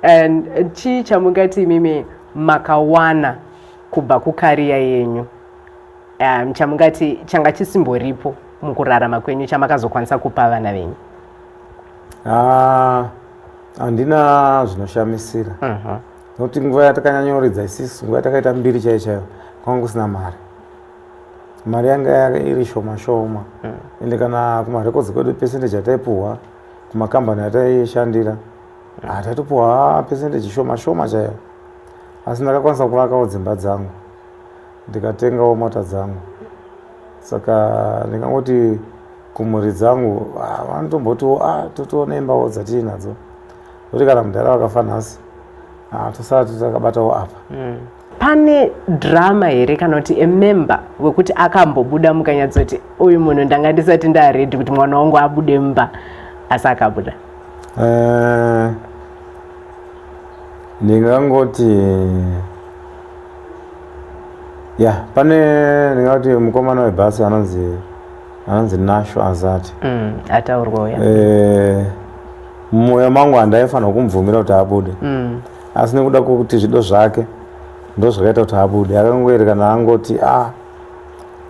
And eh, chii chamungati imimi makawana kubva kukariya yenyu um, chamungati changa chisimboripo mukurarama kwenyu chamakazokwanisa kupa vana venyu ah, handina uh, zvinoshamisira uh -huh. nokuti nguva yatakanyanyoridza isisu nguva yatakaita mbiri chaiyo chaiyo kwanga kusina mari mari yanga iri shoma shoma mm. ende kana kumarekodzi kwedu percentage yataipuhwa kumakambani yataishandira ah, taitopuwa percentage shoma shoma chaiyo asi ndakakwanisa kuvakawo dzimba dzangu ndikatengawo mota dzangu saka ndingangoti kumhuri dzangu ah, vanotombotiwo a ah, totoona imbawo dzatii nadzo kuti kana mudhara vakafa nhasi tosati takabatawo apa mm. pane drama here kana kuti emember wekuti akambobuda mukanyatsoti uyu munhu ndanga ndisati ndaredi kuti mwana wangu abude mumba asi akabuda eh, ndingangoti ya pane ndingati mukomana webhasi anonzi anonzi nasho azati mm, ataurwa uya eh, mumwoyo mangu handaifanira kumubvumira kuti abude mm. asi nekuda kwekuti zvido zvake ndozvakaita kuti abude akangoerekana angoti a ah,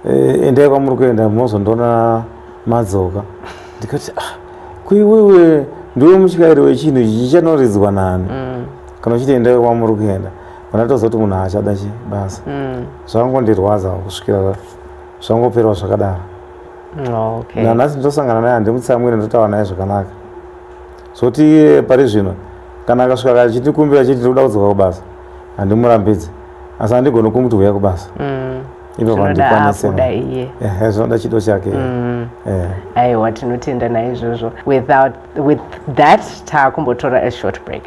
eh, endai kwamuri kuenda mozondiona madzoka ndikati a ah, kuiwewe ndiwe mutyairi wechinhu ichi chichanoridzwa nani mm. kana uchiti endai kwamuri kuenda kana tozoti munhu haachada chi basa mm. zvakangondirwadza kusvikira zvangoperwa zvakadaro nanhasi nditosangana naye handimutsamwire ndotaura naye zvakanaka Zoti iye pari zvino kana akasvika kachitikumbira chiti tiri kuda kudzoka kubasa handimurambidze asi handigoni kumuti huya kubasa mm. ipapo handikwanise zvinoda chido chake mm. aiwa tinotenda naizvozvo with that taakumbotora a short break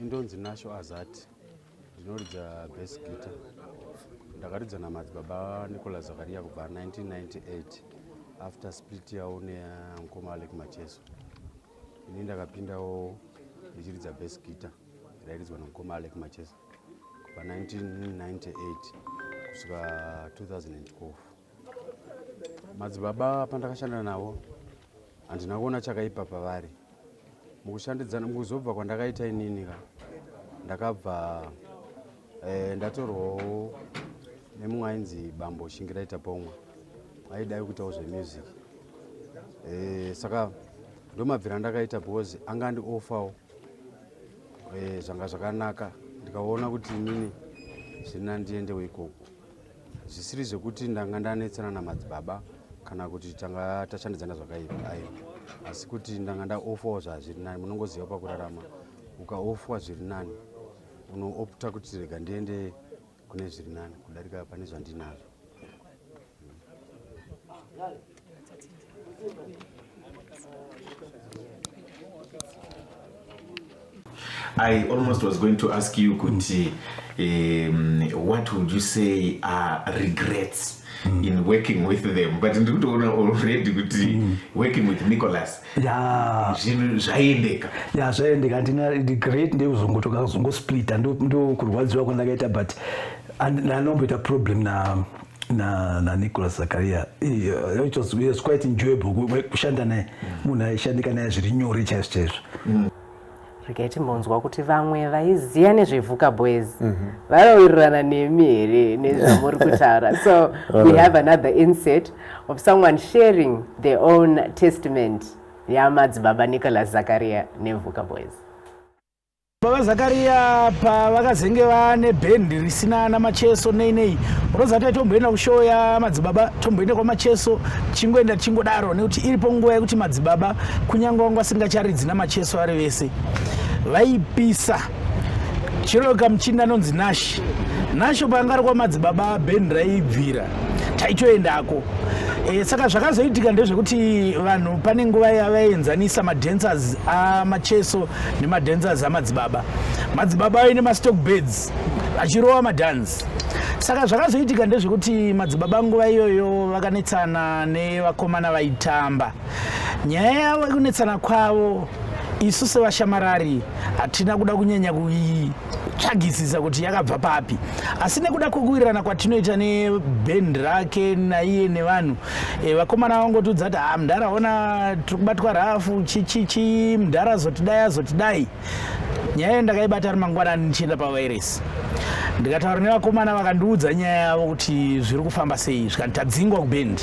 ndonzi nasho azati Ndinoridza bass guitar. Ndakaridza namadzibaba Nicolas Zakaria kubva 1998 after split yawo nemukoma Alec Macheso. Ini ndakapindawo ndichiridza bass guitar rairidzwa nemukoma Alec Macheso kubva 1998 kusvika 2012. Madzibaba pandakashanda navo handina kuona chakaipa pavari mukushandidzana mukuzobva kwandakaita inini ka ndakabva eh, ndatorwawo nemumwe ainzi bambo shingiraita pomwa aidai kuitawo zvemusic eh, saka ndomabvira ndakaita because anga andi offawo eh, zvanga zvakanaka ndikaona kuti inini zviri nandiendewo ikoko zvisiri zvekuti ndanga ndanetsana namadzibaba kana kuti tanga tashandidzana zvakaipa ayi asi kuti ndanga ndaofawo zvazviri nani munongoziva pakurarama ukaofwa zviri nani unoopta kuti rega ndiende kune zviri nani kudarika pane zvandinazvo I almost was going to ask you kuti um, what would you say are regrets mm. in working with them but ndikutoona already kuti mm. working with nicholas zvinhu zvaiendeka ya zvaiendeka handina regret ndekuzongotoka kuzongosplita ndokurwadziwa kwandakaita but andinomboita problem na na, na Nicholas Zakaria uh, it was, it was quite enjoyable kushanda naye munhu aishandika naye zviri nyore chaizvo chaizvo mm. regai timbonzwa kuti vamwe vaiziva nezvevuka boys mhm. vanowirirana nemi here nezvamuri kutaura so we have another inset of someone sharing their own testament yamadzibaba nicholas zakaria nevuka boys Baba Zakaria pavakazenge vane bhendi risina ana macheso nei nei unoziva kuti tomboenda kushow yamadzibaba tomboenda kwamacheso chingoenda tichingodaro nekuti iripo nguva yekuti madzibaba kunyange wangu asingacharidzi namacheso vari vese vaipisa chero kamuchini anonzi nashi nasho paanga ari kwamadzibaba bhendi raibvira taitoendako e, saka zvakazoitika ndezvekuti vanhu pane nguva yavaenzanisa madancers amacheso nemadancers amadzibaba madzibaba aine mastock beds achirova madhanzi saka zvakazoitika ndezvekuti madzibaba nguva iyoyo vakanetsana nevakomana vaitamba nyaya yavo yekunetsana kwavo isu sevashamarari hatina kuda kunyanya kuii tsvagisisa kuti yakabva papi asi nekuda kwekuwirirana kwatinoita nebhendi rake naiye nevanhu e, vakomana vangotiudza kuti ha mdhara ona tiri kubatwa rafu chichichi mdhara azotidai azotidai nyaya iyo ndakaibata ri mangwanani ndichienda pavairesi ndikataura nevakomana vakandiudza nyaya yavo kuti zviri kufamba sei zvikanitadzingwa kubhendi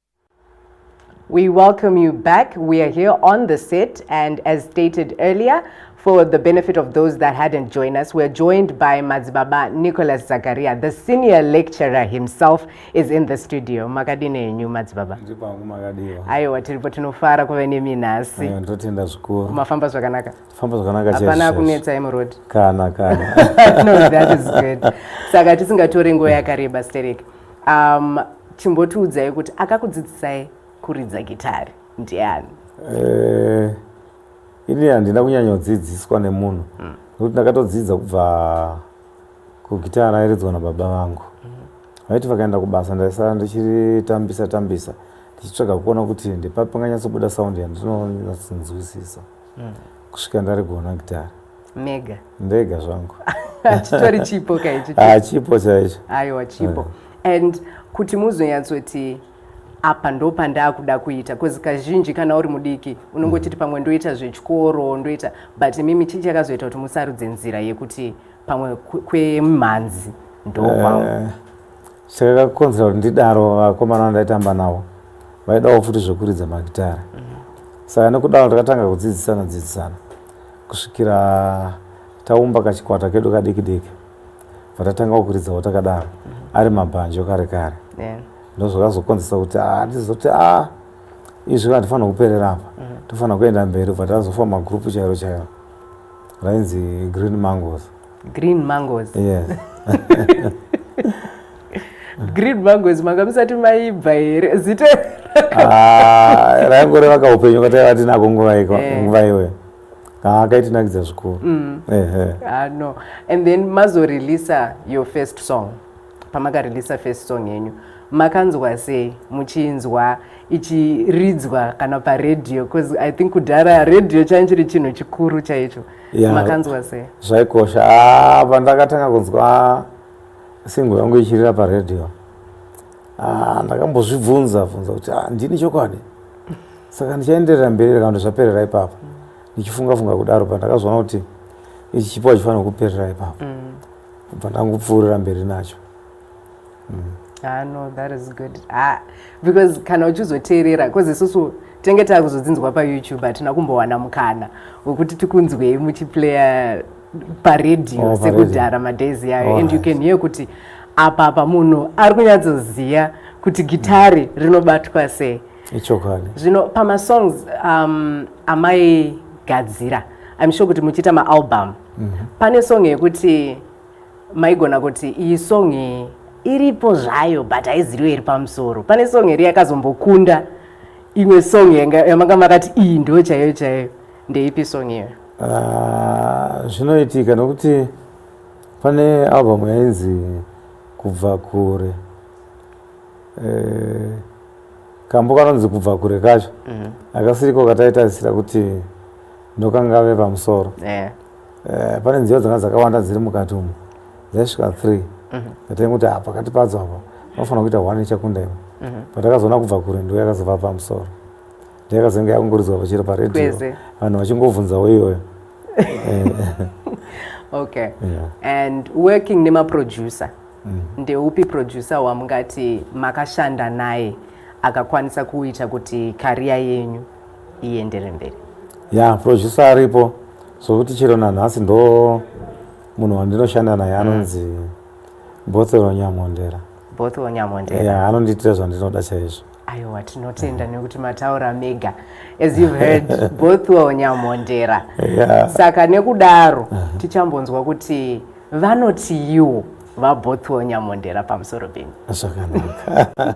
We welcome you back. We are here on the set, and as stated earlier, for the benefit of those that hadn't joined us, we're joined by Mazibaba Nicholas Zakaria, the senior lecturer himself is in the studio. Makadini enyu Mazibaba? Ndipangu makadiwa. Aiwa tiripo tinofara kuve nemi nhasi. Aiwa ndotenda zvikuru. Mafamba zvakanaka? Famba zvakanaka chaicho. Hapana kunetsa emu road. Kana kana. no, that is good. Saka tisingatore nguva yakareba stereki. um, chimbotiudzai kuti akakudzidzisai kuridza gitari ndiani eh, ini handina kunyanyodzidziswa nemunhu hmm. nekuti mm. ndakatodzidza kubva kugitara rairidzwa nababa vangu hmm. vaiti mm. vakaenda kubasa ndaisara ndichiritambisa tambisa ndichitsvaga kuona kuti ndepapanganyatsobuda saundi yandinonyatsonzwisisa mm. kusvika ndarigona gitare mega ndega zvangu chitori chipo kaichi ah, chipo chaicho aiwa chipo eh. and kuti muzonyatsoti apa ndo pandaakuda kuita bcause kazhinji kana uri mudiki unongochiti mm. pamwe ndoita zvechikoro ndoita but mimi chii chakazoita kuti musarudze nzira yekuti pamwe kwemhanzi ndokwangu eh, Chakakonzera kuti ndidaro vakomana vandaitamba navo vaidawo futi zvekuridza magitare saka nekudaro ndakatanga kudzidzisana dzidzisana kusvikira taumba kachikwata kedu kadiki diki vatatangawo kuridzawo takadaro ari mabhanjo kare kare ndozvakazokonzesa kuti ah, ndizoti a ah, izvi handifanira kuperera apa mhm. tofanira kuenda mberi bva tazofa magrupu chairo chairo rainzi green mangos green mangoes yes. green mangoes manga musati maibva here zita ah, raingore vaka upenyu katai vatinako nguva eh. iyoyo ah, akaitinakidza zvikuru mm. ah, no and then mazoreleasa your first song pamakareleasa first song yenyu makanzwa sei muchinzwa ichiridzwa kana paredhiyo bcause i think kudhara redhiyo chaichiri chinhu chikuru chaicho makanzwa sei zvaikosha ah, pandakatanga kunzwa singo yangu ichirira paradio ah, ndakambozvibvunza bvunza kuti ah, ndini chokwadi saka ndichaenderera mberi kana kuti zvaperera ipapo ndichifunga funga kudaro pandakazoona kuti ichi chipo achifanira kuperera ipapo mm. bva ndangupfuurira mberi nacho mm. ah, no that is good ah, because kana uchizoteerera because isusu tinenge takuzodzinzwa payoutube hatina kumbowana mukana wekuti tikunzwei muchiplaya paredio oh, sekudhara madays yayo oh, and you can hear kuti apa apa munhu ari kunyatsoziva kuti gitari rinobatwa sei ichokwadi zvino pamasongs um, amaigadzira i'm sure kuti muchiita maalbum mm -hmm. pane song yekuti maigona kuti iyi song iyi iripo zvayo but haiziviwe iri pamusoro pane song iri yakazombokunda imwe song yamanga makati iyi ndo chaiyo chaiyo ndeipi song iyo ah, zvinoitika nokuti pane album yainzi kubva kure eh, kambo kanonzi kubva kure kacho mhm. akasiriko kataitarisira kuti ndokangave pamusoro eh. Eh, pane nziyo dzanga dzakawanda dziri mukati umu dzaisvika three mhm. ndatainge kuti apa pakati padzo apa panofanira kuita one ichakunda imo mhm. patakazoona kubva kure ndo yakazova pamusoro ndo yakazenge yakungoridzwa pachiro paredio vanhu vachingobvunzawo iyoyo eh. okay and working nemaproducer mm. ndeupi producer wamungati makashanda naye akakwanisa kuita kuti kariya yenyu iendere mberi ya producer aripo sokuti chero nanhasi ndo munhu wandinoshanda naye mm. anonzi mm. bothero nyamondera bothero nyamondera ya anondiitira zvandinoda chaizvo aiwa tinotenda yeah. nekuti mataura mega as you've heard bothwell nyamondera yeah. saka nekudaro uh -huh. tichambonzwa kuti vanotiiwo vabothwell nyamondera pamusoro penyu zvakanaka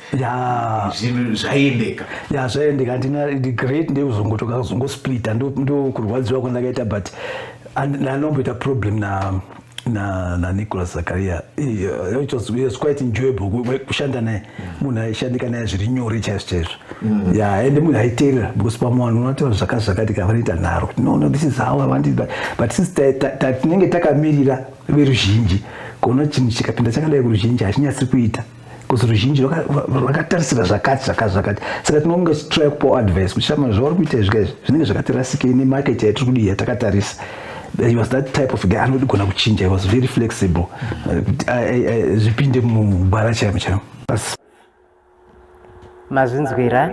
zvinhu zvaiendeka ya zvaiendeka andina the great ndekuzongotoka kuzongosplita ndokurwadziwa kwandakaita but anomboita problem na na na Nicholas Zakaria uh, it was, it was quite enjoyable kushanda naye mm. munhu aishandika naye zviri nyore chaizvo chaizvo mm. ya and munhu aiteerera because pamwe vanhu unotaura zvakati zvakati ka vanoita nharo no no this is how i want it but, but since tinenge takamirira veruzhinji kuona chinhu chikapinda chakadai kuruzhinji hachinyatsi kuita because ruzhinji rwakatarisira zvakati zvakati zvakati saka tinonge tichitrai kupawo advice kuti shama zvauri kuita izvika izvi zvinenge zvakatirasikei nemarket yaitiri kudi yatakatarisa he was that type of guy anodigona kuchinja he was very flexible zvipinde mugwara chaimo chaimo mazvinzwira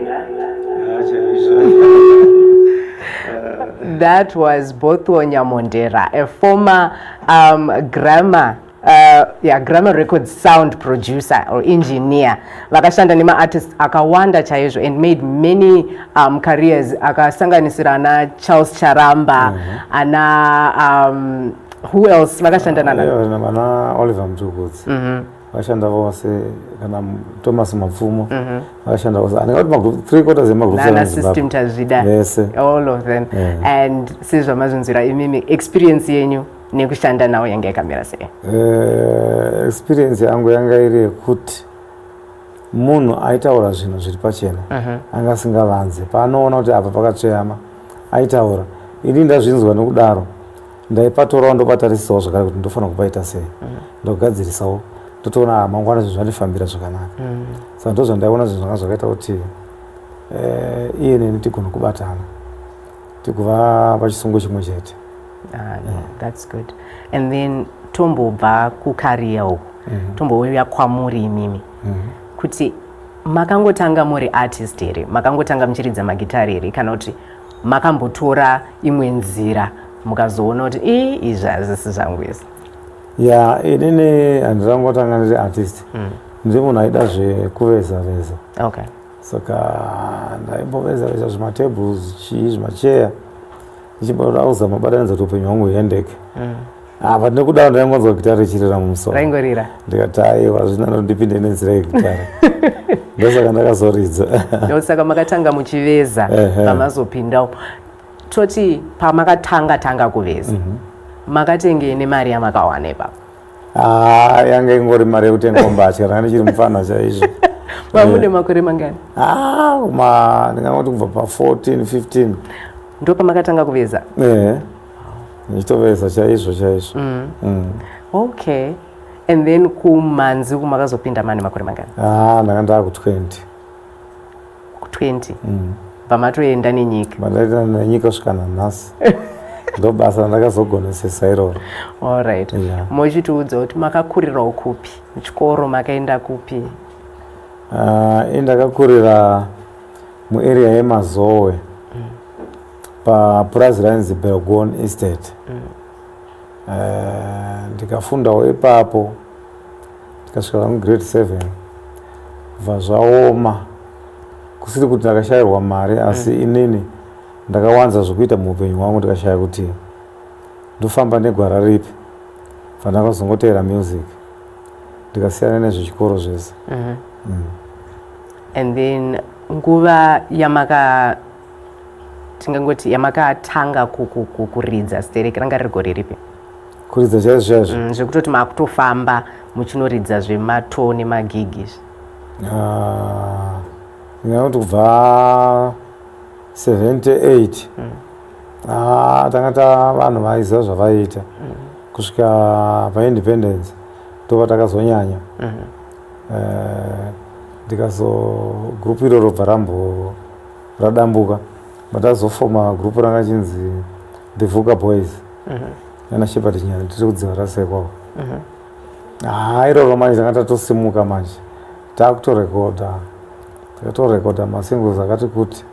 that was botho nyamondera a former um, grammar uh, yeah, grammar record sound producer or engineer vakashanda nemaartist akawanda chaizvo and made many um, careers akasanganisira ana charles charamba mm -hmm. ana um, who else vakashanda uh, nana yeah, oliver mtukudzi mm -hmm. vashanda vose kana thomas mapfumo mhm. vashanda vose andingati three quarters yemagroup tazvida vese all of them and sezvamazvinzwira imimi experience yenyu nekushanda nawo yanga yakamira sei eh, experience yangu yanga iri yekuti munhu aitaura zvinhu zviri pachena mhm. anga asingavanze paanoona kuti apa pakatsveyama aitaura ini ndazvinzwa nokudaro ndaipatorawo ndopatarisisawo zvakare kuti ndofanira kupaita sei mm. ndogadzirisawo ndotoona ah, mangwana zvinhu zvandifambira zvakanaka mm. saka ndo zvandaiona zvinhu zvanga zvakaita kuti eh, iye neni tigona kubatana tikuva pachisungo chimwe chete ah, that's good and then tombobva kukariya uku mm-hmm. tombouya kwamuri imimi mm-hmm. kuti makangotanga muri artist here makangotanga muchiridza magitari here kana kuti makambotora imwe nzira mukazoona kuti ii izvi hazvisi zvangu izvi ya inini handitangotanga ndiri artist mm. ndiri munhu aida zvekuveza veza okay. saka ndaimboveza veza zvimatables chii zvimacheya ndichimboda kuzama batanidza kuti upenyu hwangu huendeke mm. Ah, but nekuda ndaingonzwa gitara richirira mumusoro. Raingorira. Ndikati aiwa zvina ndipinde nenzira yegitara. Ndosaka ndakazoridza. Ndosaka makatanga muchiveza pamazopindawo. Toti pamakatanga tanga kuveza. Mhm. Makatengei nemari yamakawana ipapo? Ah, yanga ingori mari yekutenga mbatya kana ndichiri mufana chaizvo. Mamune makore mangani? Ah, ma ndingangoti kubva pa 14, 15. Ndopamakatanga kuveza? Eh. ndichitoveza chaizvo chaizvo mm. Mm. okay and then kumanzi uku makazopinda mani makore mangani ah, ndanga ndava ku20 ku20 mm. pamatoenda nenyika mandaita nenyika svika nanhasi ndobasa randakazogonesesa iroro allright yeah. mochitiudza kuti makakurirawo kupi chikoro makaenda kupi uh, ah, indakakurira muarea yemazowe mm. papurazi rainzi belgon estate mm. uh, ndikafundawo ipapo ndikasvika vangu grade seven bva zvaoma kusiri kuti ndakashayirwa mari asi mm. inini ndakawanza zvokuita muupenyu hwangu ndikashaya kuti ndofamba negwara ripi vandakazongoteera music ndikasiyana nezvechikoro zvese mm -hmm. mm. and then nguva yamaka tingangoti yamakatanga kuridza stereki ranga riri gore ripi kuridza chaizvo chaizvo mm, zvekutoti makutofamba muchinoridza zvematoo nemagigi izvi ah, ndingakuti kubva 78 mm. ah, tanga ta vanhu vaiziva zvavaiita mm. kusvika paindependence tova takazonyanya mm-hmm. eh, ndikazo group iroro bva rambo radambuka but azofoma group ranga chinzi the vuka boys mhm. nana shepherd nyana tiri kudziva rasekwawo mhm. haa iroro manje tanga tatosimuka manje takutorekoda takatorekoda masingles akati kuti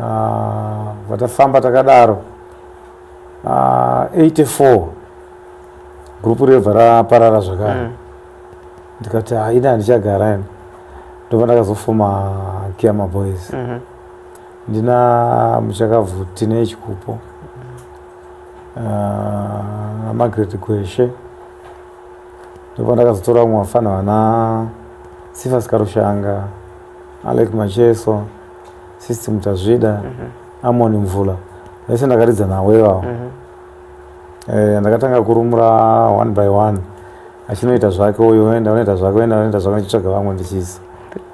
ah, vatafamba takadaro 84 ah, group rebva raparara zvakare mm. ndikati haina handichagara ini ndobva ndakazofoma kiama boys mm -hmm. ndina muchakabvu tine chikupo ah, namargaret uh, gweshe ndobva ndakazotora vamwe vafana vana sifa sikarushanga alek macheso sisti mutazvida mm -hmm. amoni mvula vese ndakaridza nawo ivavo mm -hmm. eh, ndakatanga kurumura one by one achinoita zvake uyu oenda onoita zvake oenda onoita zvake ndichitsvaga vamwe ndichiisa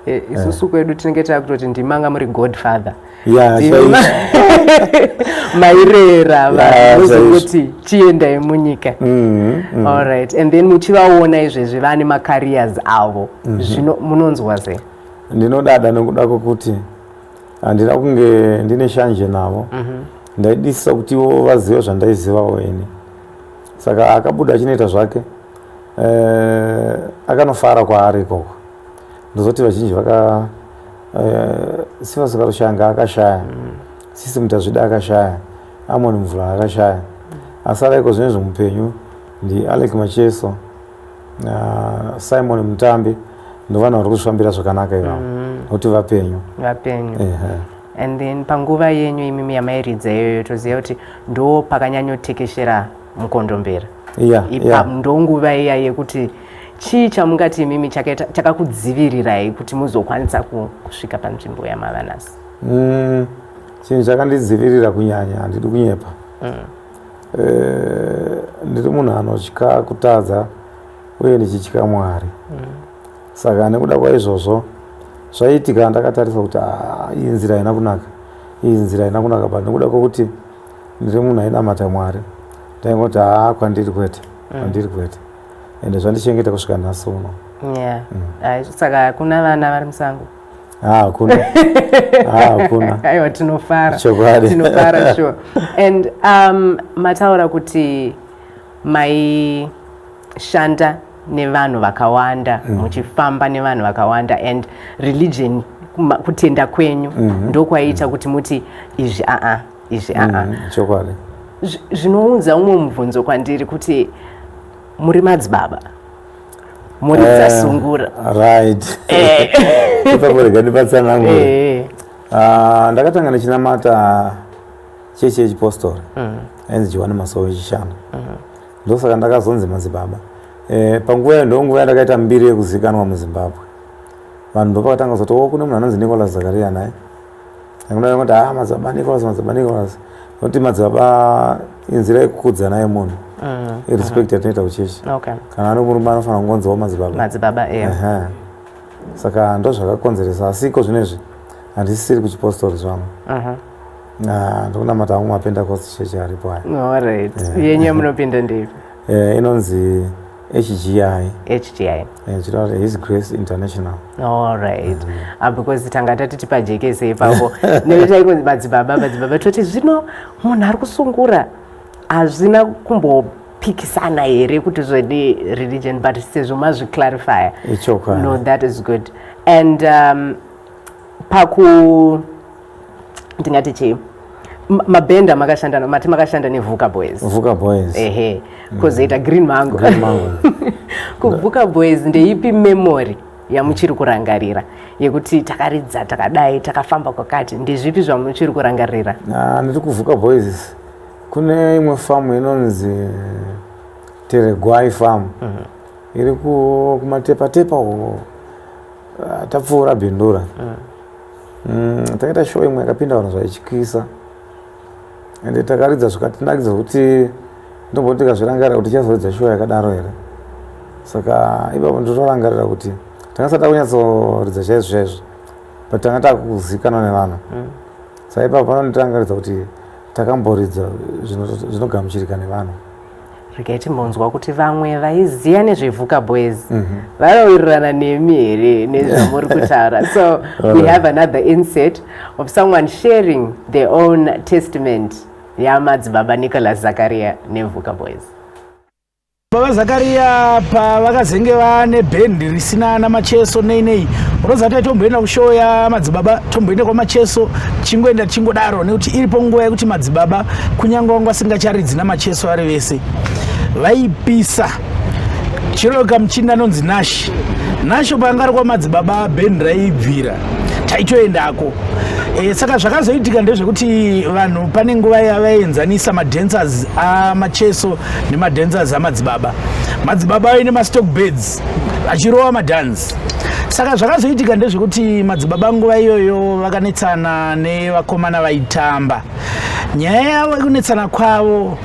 eh, isusu kwedu tinenge takutoti ndimanga muri godfather mairera vaozongoti chiendai munyika mm-hmm, mm. allright and then muchivaona izvezvi vane macarriers avo mm-hmm. zvino munonzwa sei ndinodada nokuda kwokuti handina kunge ndine shanje navo mm-hmm. ndaidisisa kuti ivo vazive zvandaizivawo ini saka akabuda achinoita zvake eh, akanofara kwaari ikoko ndozoti vazhinji vaka eh, sifa sikatoshanga akashaya mm. sisi mutazvida akashaya amoni mvura akashaya asara iko zvine zvemupenyu ndi alec macheso uh, simon mutambi ndovanhu vari kuzvifambira zvakanaka ivavo mm. nokuti vapenyu vapenyu uh -huh. and then panguva yenyu imimi yamairidza iyoyo toziva kuti ndo pakanyanyotekeshera mukondombera yeah, yeah. ndo nguva iya yekuti chii chamungati imimi chakakudzivirirai kuti muzokwanisa kusvika panzvimbo yamavanasi mm, chinhu chakandidzivirira kunyanya handidi kunyepa mm. e, ndiri munhu anotya kutadza uye ndichitya mwari mm. Saka nekuda kwaizvozvo zvaiitika ndakatarisa kuti ah, iyi nzira haina kunaka iyi nzira haina kunaka but nekuda kwekuti ndiri munhu ainamata mwari ndaingoti haa ah, kwandiri kwete mm. kwandiri kwete ende zvandichengeta kusvika nhasi uno yeah. mm. saka hakuna vana vari musango ah, hakuna hakuna aiwa tinofara chokwadi tinofara sure and um, mataura kuti maishanda nevanhu vakawanda mm. muchifamba nevanhu vakawanda and religion kutenda kwenyu mm -hmm. ndokwaiita mm. kuti muti izvi aa izvi aa mm -hmm. chokwadi zvinounza umwe mubvunzo kwandiri kuti muri madzibaba muri eh, dzasungura right eh. pamurega ndipatsanangu eh. ah, ndakatanga ndichinamata chechi yechipostori mm. ainzi johani masowe chishanu mm. Ndosaka ndakazonzi madzibaba. Eh, panguva iyo ndonguva yandakaita mbiri yekuzikanwa muzimbabwe vanhu ndopakatanga kuzoti o oh, kune munhu anonzi nicolas zakaria naye kuti ha ah, madzibaba nicolas madzibaba nicolas nokuti madzibaba inzira yekukudzana yemunhu mm, irespect mm. yatinoita kuchechi kana ari murume anofanira kungonziwo oh, madzibaba saka ndozvakakonzeresa asiko zvino izvi handisisiri kuchipostori zvangu Ah, ndikunamata hangu mapentecost church aripo aya No, all right. Eh. Yenyu yamunopinda ndeipi? Eh, inonzi hgi HGI. eh, chitaura kuti his grace international All right. Mm. Ah, because tanga tati tipajekese ipapo. Nekuti taikonzi madzibaba, madzibaba toti zvino munhu ari kusungura hazvina kumbopikisana here kuti zvedi religion but sezvo mazviclarifya. ichokwadi No, that is good. And um, paku ndingati chii mabhenda ma makashanda mati makashanda nevhuka boys vhuka boys ehe mm. kozoita mm. green mango, green mango. kuvhuka boys ndeipi memory yamuchiri kurangarira yekuti takaridza takadai takafamba kwakati ndezvipi zvamuchiri kurangarira ah, ndiri kuvhuka boys kune imwe famu inonzi teregwai famu mm -hmm. iri kumatepatepa uko Ah, tapfuura bindura mm. mm, takaita show imwe yakapinda vanhu zvaityisa ende takaridza zvikatinakidza kuti ndomboti tikazvirangarira kuti tichazoridza show yakadaro here saka ipapo nditorangarira kuti tangasada kunyatsoridza chaizvo chaizvo but tanga takuzikanwa nevanhu mm. saka ipapo panondirangaridza kuti takamboridza zvinogamuchirika nevanhu regai timbonzwa kuti vamwe vaiziva nezvevuka boys mm -hmm. vanowirirana nemi here nezvamuri kutaura so we have another inset of someone sharing their own testament yamadzibaba nicholas zakaria nevuka boys baba zakaria pavakazenge vane bhendi risina namacheso nei nei unoziva taitomboenda kushow yamadzibaba tomboenda kwamacheso chingoenda chingodaro nekuti iripo nguva yekuti madzibaba kunyange wangu asingacharidzi namacheso vari vese vaipisa chero kamuchinda anonzi nashi nasho paanga ari kwamadzibaba bheni raibvira taitoendako e, saka zvakazoitika ndezvekuti vanhu pane nguva yavaenzanisa madancers amacheso nemadancers amadzibaba madzibaba aine mastock beds achirova madance saka zvakazoitika ndezvekuti madzibaba nguva iyoyo vakanetsana nevakomana vaitamba nyaya yavo yekunetsana kwavo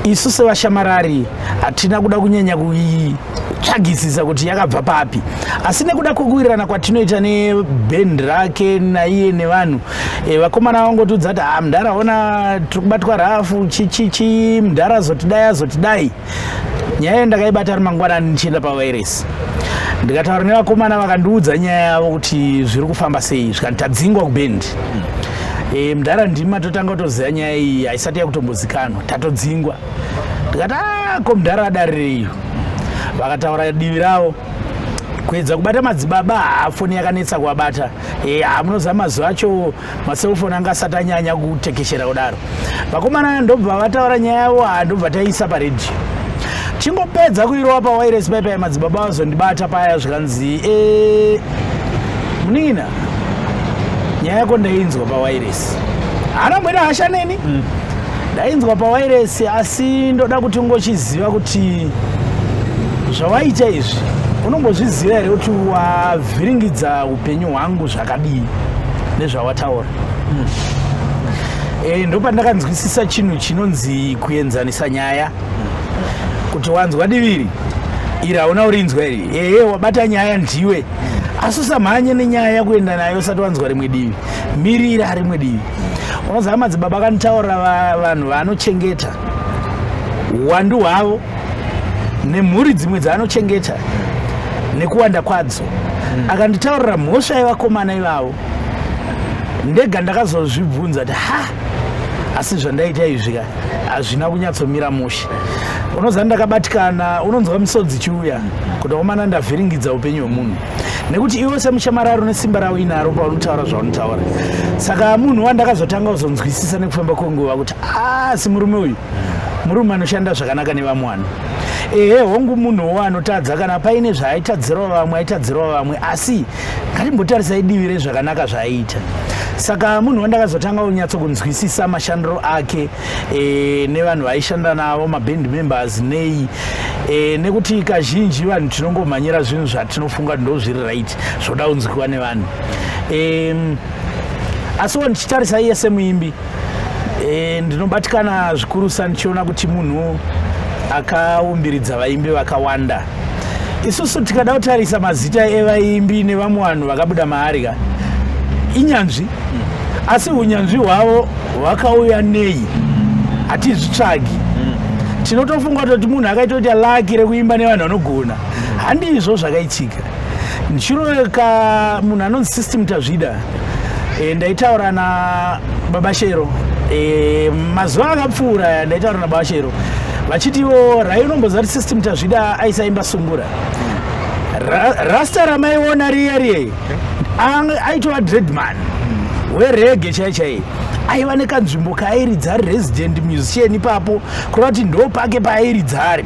isu sevashamarari hatina kuda kunyanya kuii tsvagisisa kuti yakabva papi asi nekuda kwekuwirirana kwatinoita nebhendi rake naiye nevanhu e, vakomana vangotiudza kuti ha ah, mdhara ona tiri kubatwa rafu chichichi mdhara zotidai azotidai nyaya iyo ndakaibata ari mangwanani ndichienda pavairesi ndikataura nevakomana vakandiudza nyaya yavo kuti zviri kufamba sei zvikanzi tadzingwa kubendi e, mdhara ndimi matotanga kutoziva nyaya iyi haisati yakutombozikanwa tatodzingwa ndikati ah, ko mdhara adarireiyo vakataura divi ravo kuedza kubata madzibaba haa foni yakanetsa kuabata e, eh, haa munozama mazuva acho maselfoni anga asati anyanya kutekeshera kudaro vakomana ndobva vataura nyaya yavo haa ndobva taiisa paredhiyo chingopedza kuirova pawairesi paipa yemadzibaba vazondibata paya zvikanzi e eh, munin'ina nyaya yako ndainzwa pawairesi haana mbwena hasha neni mm. ndainzwa pawairesi asi ndoda kuti ungochiziva kuti zvawaita izvi unombozviziva here kuti wavhiringidza upenyu hwangu zva akadii nezvawataura mm. e, ndopandakanzwisisa chinhu chinonzi kuenzanisa nyaya kuti wanzwa diviri iri hauna urinzwa iri ee eh, wabata nyaya ndiwe asi usamhanye nenyaya yakuenda nayo usati wanzwa rimwe divi mirira rimwe divi unoziva madzibaba kanitaurira vanhu vanochengeta uwandu hwavo nemhuri dzimwe dzaanochengeta nekuwanda kwadzo mm. akanditaurira mhosva yevakomana ivavo ndega ndakazozvibvunza kuti ha asi zvandaita izvi ka hazvina kunyatsomira mushe unoziva ndakabatikana unonzwa misodzi chiuya kuti omana ndavhiringidza upenyu hwemunhu nekuti iwe semushamararo nesimba ravo inaro paunotaura zvaunotaura saka munhu wandakazotanga kuzonzwisisa nekufamba kwenguva kuti asi murume uyu murume anoshanda zvakanaka nevamwani ehe hongu munhuwo anotadza kana paine zvaaitadzirwa vamwe aitadzirwa vamwe asi ngatimbotarisai divi rezvakanaka zvaaiita saka munhu wandakazotanga unyatso kunzwisisa mashandiro ake e, nevanhu vaishanda navo maband members nei e, nekuti kazhinji vanhu tinongomhanyira zvinhu zvatinofunga ndo zviri right zvoda unzwiwa nevanhu e, asiwo ndichitarisa iye semuimbi e, ndinobatikana zvikurusa ndichiona kuti munhu akaumbiridza vaimbi vakawanda isusu tikada kutarisa mazita evaimbi nevamwe vanhu vakabuda maari ka inyanzvi asi unyanzvi hwavo hwakauya nei hatizvitsvagi tinotofunga kutoti munhu akaitoita laki rekuimba nevanhu vanogona handizvo zvakaitika ndichiroweka munhu anonzi system tazvida e, ndaitaura na baba shero e, mazuva akapfuura ndaitaura na baba shero vachitiwo rai unomboziva kuti system tazvida aisaimba sungura Ra, rasta ramaiona riye riye aitova dreadman werege chai chai aiva nekanzvimbo kaairidza ari resident musician ipapo kureva kuti ndo pake paairidza ari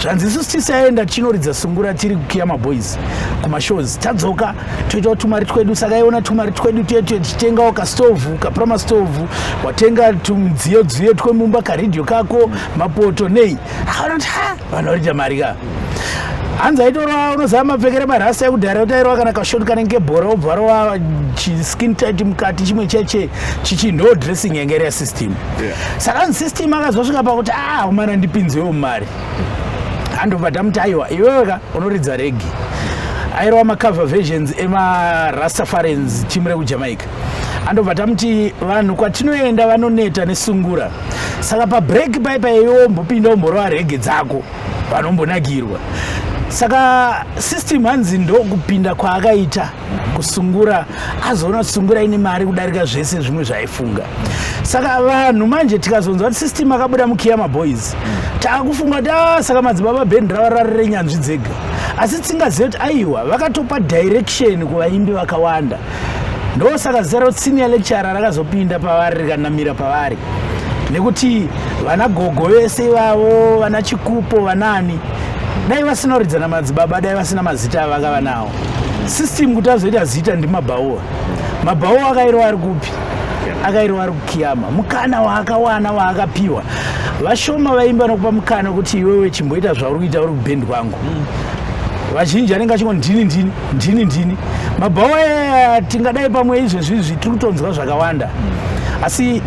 zvanzi isusu tisaenda tichinoridza sungura tiri kukiya maboys kumashows tadzoka toitawo tumari twedu saka iona tumari twedu tuye tuye tichitengawo kastovhu kaprama stovhu watenga tumidziyo dziyo twemumba karidhio kako mapoto nei akaona kuti ha vanhu vanoita mari ka hanzi aitorova unoziva mapfekere marasta ekudhara kuti airova kana kashoti kanenge bhora obva varova chiskin tit mukati chimwe cheche chichi no dressing yanga iri yasystem saka nzi system akazosvika pakuti a ah, umana ndipinzewo mari handobva tamuti aiwa iwewe ka unoridza regi airova macover versions emarastafarians timu rekujamaica andobva tamuti vanhu kwatinoenda vanoneta nesungura saka pabreak pai paiwe ombopinda omborova rege dzako vanombonakirwa saka system hanzi ndokupinda kwaakaita kusungura azoona kuti sungura ine mari kudarika zvese zvimwe zvaifunga saka vanhu manje tikazonzwa kuti system akabuda mukiya maboys taakufunga kuti a ah, saka madzibaba band rava rari renyanzvi dzega asi tsingazive kuti aiwa vakatopa direction kuvaimbi vakawanda ndosaka zita roti senior lecturer rakazopinda pavari rikanamira pavari nekuti vana gogo vese ivavo vana chikupo vanani dai vasinoridzana madzibaba dai vasina mazita avakava nawo system kuti azoita zita ndimabhaoa mabhaoa akairwa ari kupi akairwa ari kukiyama mukana waakawana waakapiwa vashoma vaimba nokupa mukana kuti iwewe chimboita zvauri kuita uri kubhendi kwangu vazhinji anenge achingo ndini ndini ndini ndini mabhaoa eh, tingadai pamwe izvezvi izvi tiri kutonzwa zvakawanda asi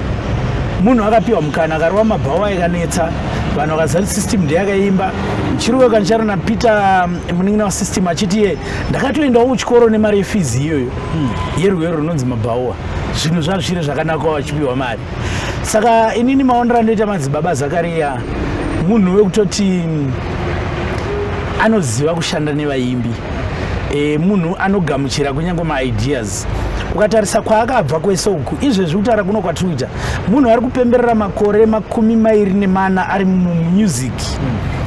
munhu akapiwa mukana akarova mabhaoa akanetsa vanhu vakazati system ndeyakaimba chiruwe kancharo napeter um, munin'ina wasystem achiti iye ndakatoendawo kuchikoro nemari yefizi iyoyo hmm. yerwero runonzi mabhaua zvinhu zvazviri zvakanaka wachipiwa mari saka inini maonero andoita madzibaba zakariya munhu wekutoti hmm, anoziva kushanda nevaimbi e, munhu anogamuchira kunyange maideas ukatarisa kwaakabva kwese uku izvezvi kutaura kuno kwatiri kuita munhu ari kupemberera makore makumi mairi nemana ari mumusic mm.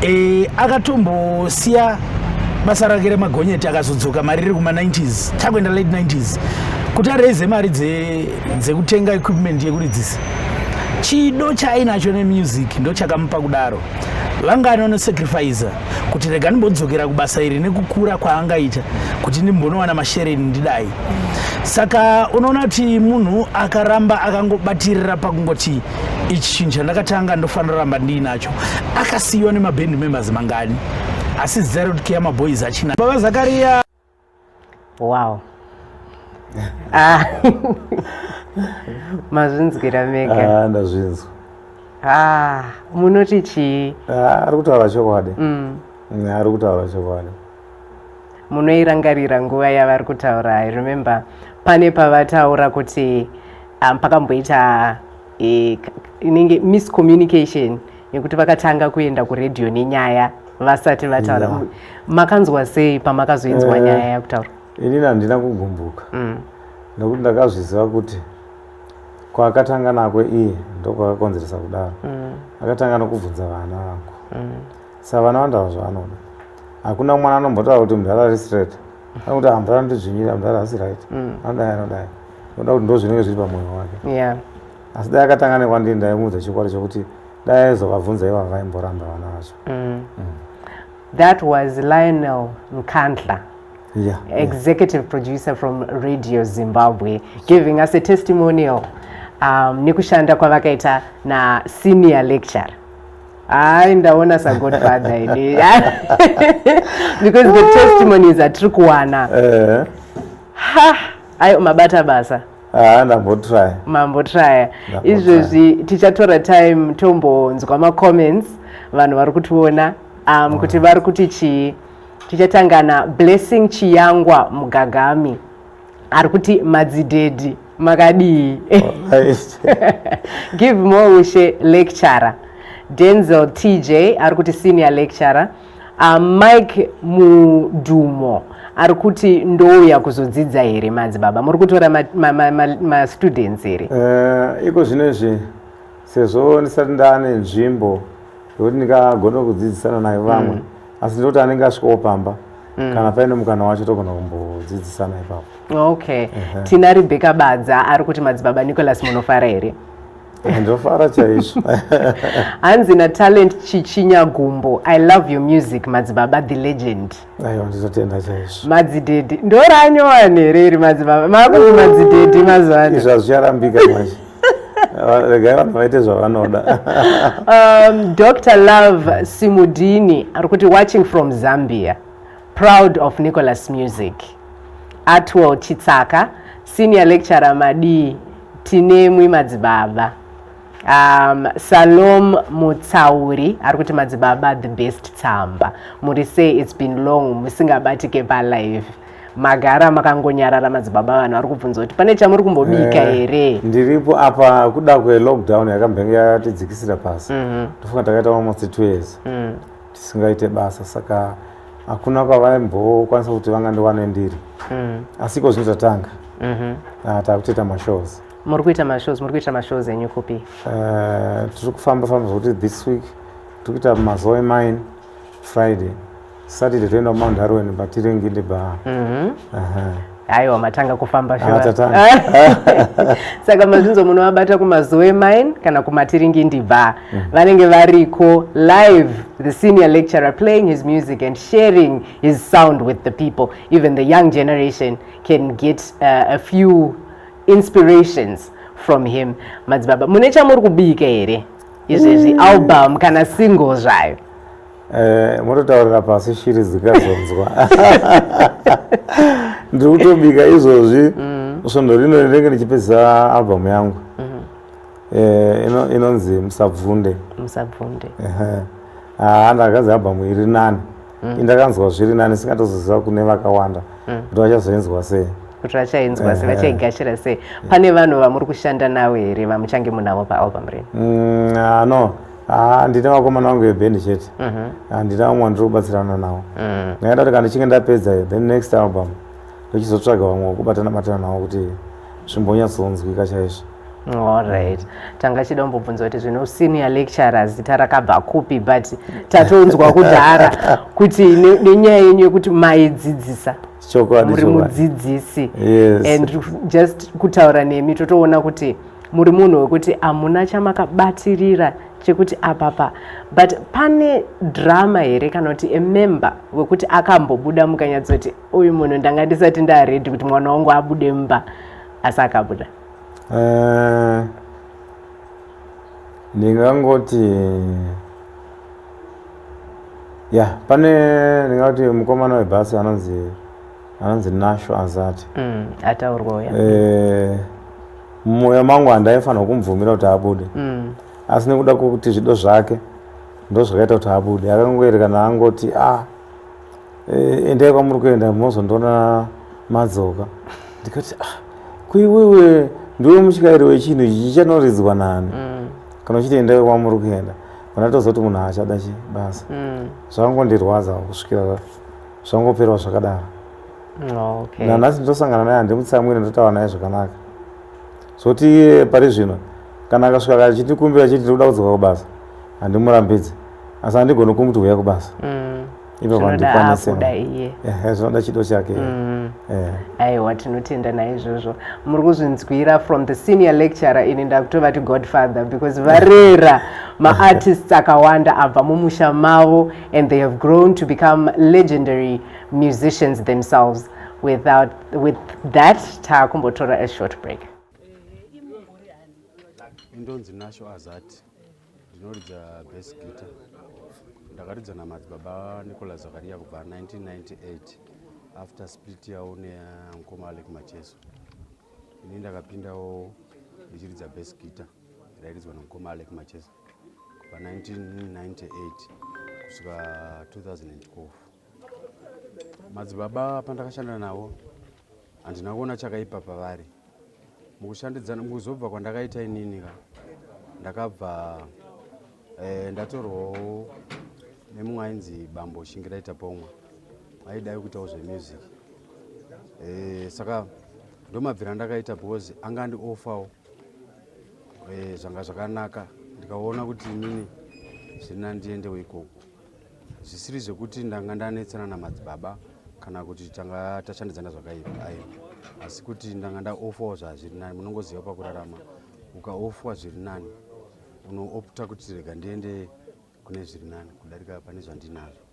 e, akatombosiya basa rake remagonyeti akazodzoka mari riri kuma90s takuenda late 90s kuti araize mari dzekutenga dze equipment yekuridzisa chido chaainacho nemusic ndo chakamupa kudaro vanga anonosacrifiza kuti rega ndimbodzokera kubasa iri nekukura kwaangaita kuti ndimbonowana mashereni ndidai saka unoona kuti munhu akaramba akangobatirira pakungoti ichi chinhu chandakatanga ndofanira ramba ndiinacho akasiyiwa nemaband members mangani asi zita rekuti keya maboys achina baba zakariya wow ah. mazvinzwira mega ah, ndazvinzwa ah, munoti chii ah, ari kutaura chokwadi mm. mm, ari kutaura chokwadi munoirangarira nguva yavari kutaura i remember pane pavataura kuti um, pakamboita e, inenge miscommunication yekuti vakatanga kuenda kuredio nenyaya vasati vataura yeah. makanzwa sei pamakazoinzwa uh, nyaya yakutaura inini handina kugumbuka mm. nokuti ndakazviziva kuti kwaakatanga nako iye ndokwakakonzeresa kudaro mm. akatanga nokubvunza vana vangu mm. savana vandava zvavanoda hakuna mwana anombotaura kuti mudhara ari straight anokuti ah, mudhara anondidzvinyira mudhara asi right mm. anodai anodai oda kuti ndo zvinenge zviri pamwoyo wake asi dai akatanga nekwandii ndaimuudza chikwadi chokuti dai aizovabvunza iva vaimboramba vana vacho mm. Mm. that was lionel nkandla Yeah, executive yeah. producer from radio zimbabwe giving us a testimonial um, nekushanda kwavakaita nasenior lecture hayi ndaona sagodfather ini because the testimonies atiri kuwana eh. ha ayi mabata basa ah, ndambotraya mambotraya izvezvi tichatora time tombonzwa macomments vanhu vari kutiona um, kuti vari kuti chii tichatangana blessing chiyangwa mugagami ari kuti madzidhedhi makadii give more ushe lecturer denzel tj ari kuti senior lecturer uh, mike mudhumo ari kuti ndouya kuzodzidza here madzibaba muri kutora mastudents ma, ma, ma, ma here uh, iko zvino izvi sezvo ndisati ndaane nzvimbo yokuti ndikagona kudzidzisana nayo vamwe mm. asi ndinoti anenge asvikawo pamba Mm. kana paine mukana wacho togona kumbodzidzisana ipapo okay uh -huh. tina rebeka badza ari kuti madzibaba nicolas munofara here eh, ndofara chaizvo hanzi natalent chichinya gumbo i love your music madzibaba the legend aiwa ndizotenda chaizvo madzidhedhi ndoranyowane here iri madzibaba makuti madzidhedhi mazuva ano izvo hazvicharambika manje regai vanhu vaite zvavanoda um, dr love simudini ari kuti watching from zambia proud of nicholas music atwell chitsaka senior lecturer madii tinemwi madzibaba um, salom mutsauri ari kuti madzibaba the best tsamba muri sei its been long musingabatike palive magara makangonyarara madzibaba vanhu vari kubvunza kuti pane chamuri kumbobika eh, here ndiripo apa kuda kwelockdown yakambenge yatidzikisira pasi mhm. ndofunga takaita almost two years mm. tisingaite basa saka hakuna kwavaimbokwanisa kuti vangandiwane ndiri mm. asi iko zvino tatanga mhm. ah, takutoita mashows muri kuita mashows muri kuita mashows enyu kupi eh, tiri kufamba famba zvokuti this week tiri kuita mazoe mine friday Saturday toenda kuMount Darwin but tiringinde ba. Mhm. Aha. Aiwa matanga kufamba shuwa. Tatanga. Saka mazvinzo munovabata kumazoe mine kana kumatiringindi ba. Mm. Vanenge variko live the senior lecturer playing his music and sharing his sound with the people. Even the young generation can get uh, a few inspirations from him. Madzibaba, mune chamuri kubika here? Izvezvi mm. album kana single zvayo. Eh, mototaurira pasi shiri dzikazonzwa ndiri kutobika izvozvi mm. svondo rino rinenge ndichipedza albhamu yangu mm-hmm. eh, inonzi musabvunde musabvunde ah, ndakanzi albhamu iri nani mm. indakanzwa zviri nani singatozoziva kune vakawanda mm. kuti vachazoinzwa sei kuti vachainzwa sei vachaigashira sei pane vanhu vamuri kushanda navo here vamuchange munavo paalbhamu rino mm, ah, no Ah, ndine vakomana vangu veband chete mhm. ah, ndine vamwe vandiri kubatsirana navo mm. ngaenda kuti kana ndichinge ndapedza iyo then next album ndochizotsvaga vamwe vekubatana batana navo kuti zvimbonyatsonzwika chaizvo allright tanga chida umbobvunza kuti zvino senior lecturer zita rakabva kupi but tatonzwa kudhara kuti nenyaya yenyu yekuti maidzidzisa muri mudzidzisi and just kutaura nemi totoona kuti muri munhu wekuti hamuna chamakabatirira chekuti apapa but pane drama here kana kuti emember wekuti akambobuda mukanyatsoti uyu munhu ndanga ndisati ndaredi kuti mwana wangu abude mumba asi akabuda eh, ndingangoti ya pane ndingati mukomana webhasi anonzi anonzi nasho azati mm, ataurwa uya eh, mumwoyo mangu handaifanirwa kumubvumira kuti abude mm. asi nekuda kwekuti zvido zvake ndozvakaita kuti abude akangoerekana angoti a ah, eh, endai kwamuri kuenda mozondoona madzoka ndikati ah, kuiwewe ndiwe mutyairi wechinhu ichi chichanoridzwa nani mm. kana uchiti endai kwamuri kuenda kana tozoti munhu haachada chi basa mm. zvakangondirwadza kusvikira zvangoperwa zvakadaro mm, okay. nanhasi nditosangana naye handimutsamwire ndotaura naye zvakanaka zvoti iye pari zvino kana akasvika kachindikumbira achiti ndiri kuda kudzoka kubasa handimurambidzi asi handigoni kumuti huya kubasa mm. ivo vandikwanisira zvinoda chido chake mm. aiwa tinotenda naizvozvo muri kuzvinzwira from the senior lecturer ini ndakutovati godfather because varera maartists akawanda abva mumusha mavo and they have grown to become legendary musicians themselves without with that taakumbotora a short break indonzi nasho azati ndinoridza bas guitar ndakaridza namadzibaba nicolas zakaria kubva 1998 after split yavo neamukoma alek macheso ini ndakapindawo ndichiridza bas guitar rairidzwa namukoma alek macheso kubva 1998 kusvika 2012 madzibaba pandakashanda navo handina kuona chakaipa pavari mukushandidzana mukuzobva kwandakaita inini ka ndakabva eh, ndatorwawo nemumwe ainzi bambo shingiraita pomwa aidai kuitawo zvemusic eh, saka ndomabvira ndakaita because anga andiofawo Eh, zvanga zvakanaka ndikaona kuti inini zvina ndiendewo ikoko zvisiri zvekuti ndanga ndanetsana namadzibaba kana kuti tanga tashandidzana zvakaipa aiwa asi kuti ndanga ndaofawo zvazviri nani munongoziva pakurarama ukaofwa zviri nani unoopta kuti rega ndiende kune zviri nani kudarika pane zvandinazvo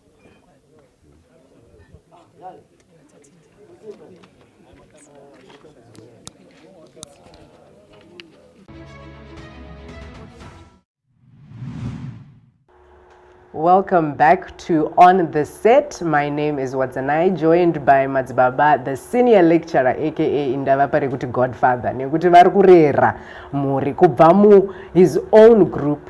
Welcome back to On the Set. My name is Watsanai, joined by Madzibaba, the senior lecturer aka Indava Parikuti Godfather nekuti vari kurera mhuri kubva mu his own group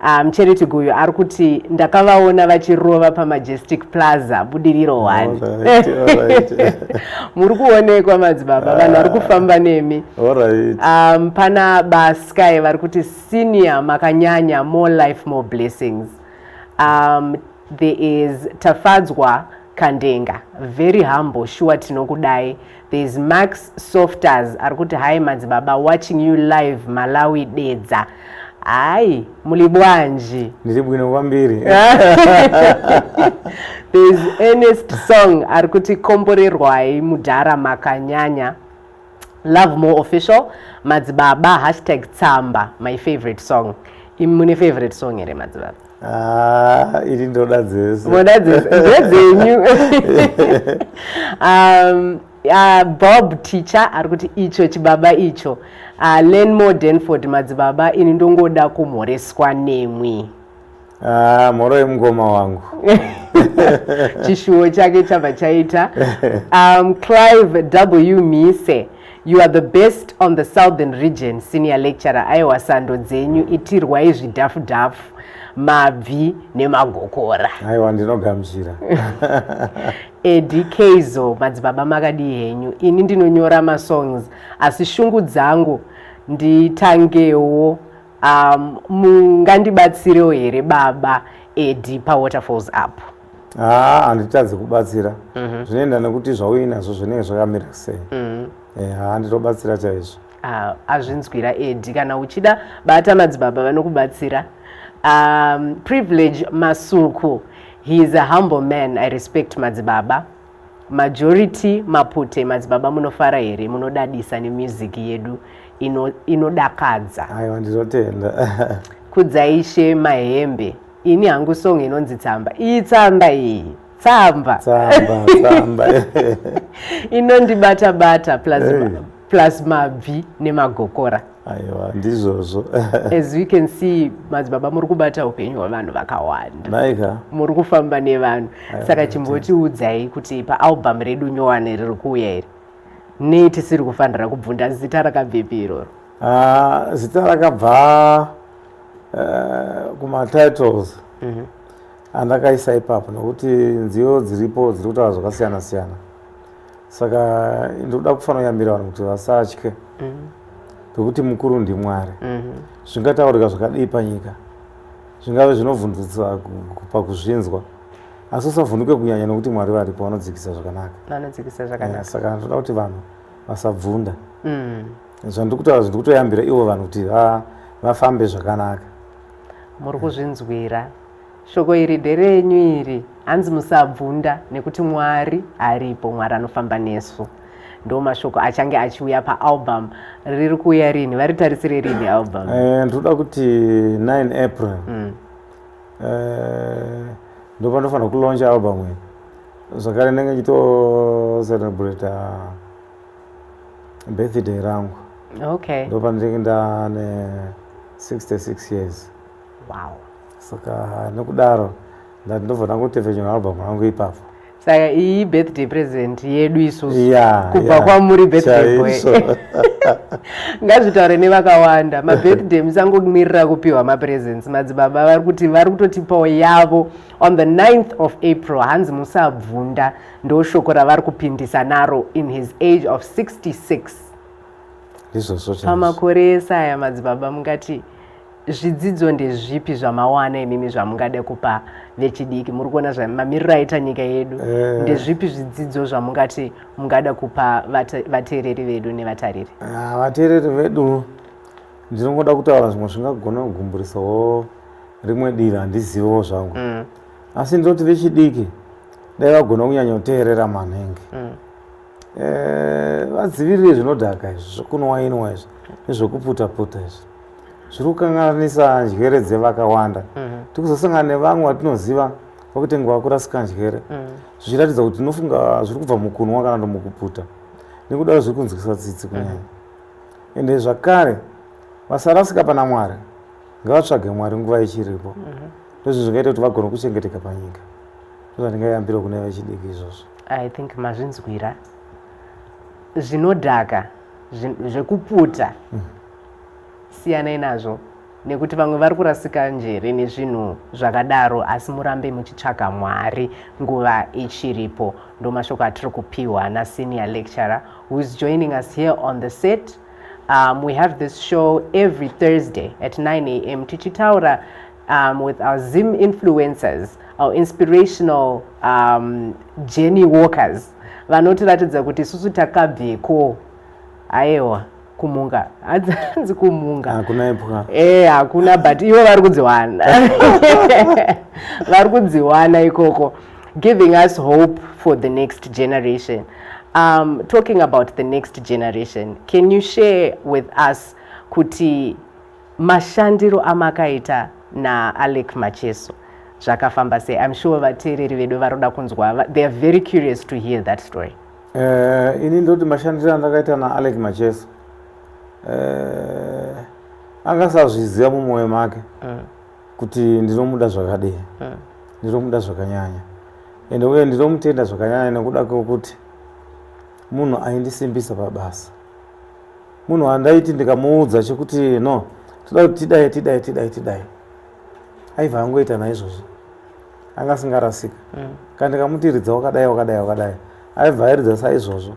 Ah, mucheneti um, guyo ari kuti ndakavaona vachirova pamajestic plaza budiriro oh, one muri kuonekwa madzibaba vanhu vari ah. kufamba nemi um, pana basky vari kuti senior makanyanya more life more blessings um, there is tafadzwa kandenga very humble shuwa tinokudai There's Max Softers ari kuti hi madzibaba watching you live Malawi Dedza. Hayi muli bwanji? Ndiri bwino kwambiri. There's Ernest Song ari kuti komborerwai mudhara makanyanya. Love more official madzibaba hashtag tsamba my favorite song. Imune favorite song here madzibaba? Ah, iri ndoda dzese moda dzese ndedzenyu um, uh, bob teacher ari kuti icho chibaba icho uh, lenmore denford madzibaba ini ndongoda kumhoreswa nemwi ah, mhoro yemukoma wangu chishuwo chake chabva chaita um, clive w mise You are the best on the southern region senior lecturer aiwa sando dzenyu itirwai zvidhafu dhafu mabvi nemagokora aiwa ndinogamuchira edi keizo madzibaba makadii henyu ini ndinonyora masongs asi shungu dzangu nditangewo um, mungandibatsirewo here baba edi pawaterfalls apo haa handitadzi kubatsira mhm. zvinoenda nekuti zvauinazvo zvinenge zvakamira sei mhm. eh, haa nditobatsira chaizvo ah, azvinzwira edi kana uchida bata madzibaba vanokubatsira um, privilege masuku he is a humble man i respect madzibaba majority mapute madzibaba munofara here munodadisa nemusic yedu inodakadza ino aiwa ndinotenda kudzaishe mahembe ini hangu song inonzi tsamba iyi tsamba iyi tsamba tsamba tsamba inondibata bata plus hey. plus mabvi nemagokora aiwa ndizvozvo as we can see madzibaba muri kubata upenyu hwevanhu vakawanda naika muri kufamba nevanhu saka chimbotiudzai kuti paalbum redu nyowani riri kuuya iri nei tisiri kufanira kubvunda zita rakabvepi iroro Ah, zita rakabva uh, kumatitles mm -hmm. andakaisa ipapo nokuti nziyo dziripo dziri kutaura zvakasiyana siyana saka ndikuda kufanoyambira vanhu kuti vasatye mm -hmm. pekuti mukuru ndimwari mm -hmm. zvingataurika zvakadii panyika zvingave zvinovhundusa pakuzvinzwa asi usavhunduke kunyanya nokuti mwari varipo vanodzikisa zvakanaka vanodzikisa zvakanaka eh, saka ndinoda kuti vanhu vasabvunda mm -hmm. zvandiri kutaura zviri kutoyambira ivo vanhu kuti vafambe zvakanaka muri kuzvinzwira shoko iri nderenyu iri hanzi musabvunda nekuti mwari aripo mwari anofamba nesu ndo mashoko achange achiuya paalbum riri kuuya rini varitarisire rini album eh, ndinoda kuti 9 april mm. eh, ndo panofanira kuloncha album iyi zvakare ndenge chito celebrate birthday rangu okay ndopandinenge ndane 66 years wow saka nokudaro ndati ndobva ndangotevhenyura album rangu ipapo saka iyi birthday present yedu isusu yeah, kubva yeah. kwamuri birthday boy ngazvitaure nevakawanda mabirthday musangomirira kupiwa mapresents madzibaba vari kuti vari kutotipawo yavo on the 9th of april hanzi musabvunda ndoshoko ravari kupindisa naro in his age of 66 pamakore ese aya madzibaba mungati zvidzidzo ndezvipi zvamawana imimi zvamungade kupa vechidiki muri kuona mamiriro aita nyika yedu eh. ndezvipi zvidzidzo zvamungati mungada kupa vateereri vedu nevatariri ah, vateereri vedu ndinongoda kutaura zvimwe zvingagona kugumburisavo rimwe dira handizivewo zvangu mm. asi ndoti vechidiki dai vagona kunyanyoteerera manenge mm. eh, vadzivirire zvinodhaka izvi zvekunwainwa izvi nezvekuputaputa izvi zviri kukanganisa njere dzevakawanda mm-hmm. tiri kuzosangana nevamwe vatinoziva vakuti nguva kurasika njere mm. zvichiratidza kuti tinofunga zviri kubva mukunwa kana kuti mukuputa nekudaro zviri kunzwisa tsitsi kunyanya mm-hmm. ende zvakare vasarasika pana mwari ngavatsvage mwari nguva ichiripo mm-hmm. ndozvo zvingaita kuti vagona kuchengeteka panyika ndozvandingayambira kune vechidiki izvozvo i think mazvinzwira zvinodhaka zvekuputa mm. siyanai nazvo nekuti vamwe vari kurasika njere nezvinhu zvakadaro asi murambe muchitsvaga mwari nguva ichiripo ndo mashoko atiri kupiwa nasenior lecturer whois joining us here on the set um, we have this show every thursday at 9 am tichitaura um, with our Zim influencers, our inspirational um, journey walkers vanotiratidza kuti isusu takabveko ayewa kumunga hanzi kumunga hakuna ipwa e hakuna but ivo vari kudziwana vari kudziwana ikoko giving us hope for the next generation um, talking about the next generation can you share with us kuti Mashandiro amakaita na Alec Macheso zvakafamba sei? I'm sure vateereri vedu varoda kunzwa. They are very curious to hear that story. Uh, ini ndoti mashandiro andakaita na Alec Macheso uh, akasazviziva mumwoyo make mm. kuti ndinomuda zvakadii mm. ndinomuda zvakanyanya ende uye ndinomutenda zvakanyanya nekuda kwekuti munhu aindisimbisa pabasa munhu wandaiti ndikamuudza chekuti no toda kuti tidai tidai tidai tidai aiva angoita naizvozvi anga asingarasika mm. kana ndikamuti ridza wakadai wakadai wakadai aibva airidza saizvozvo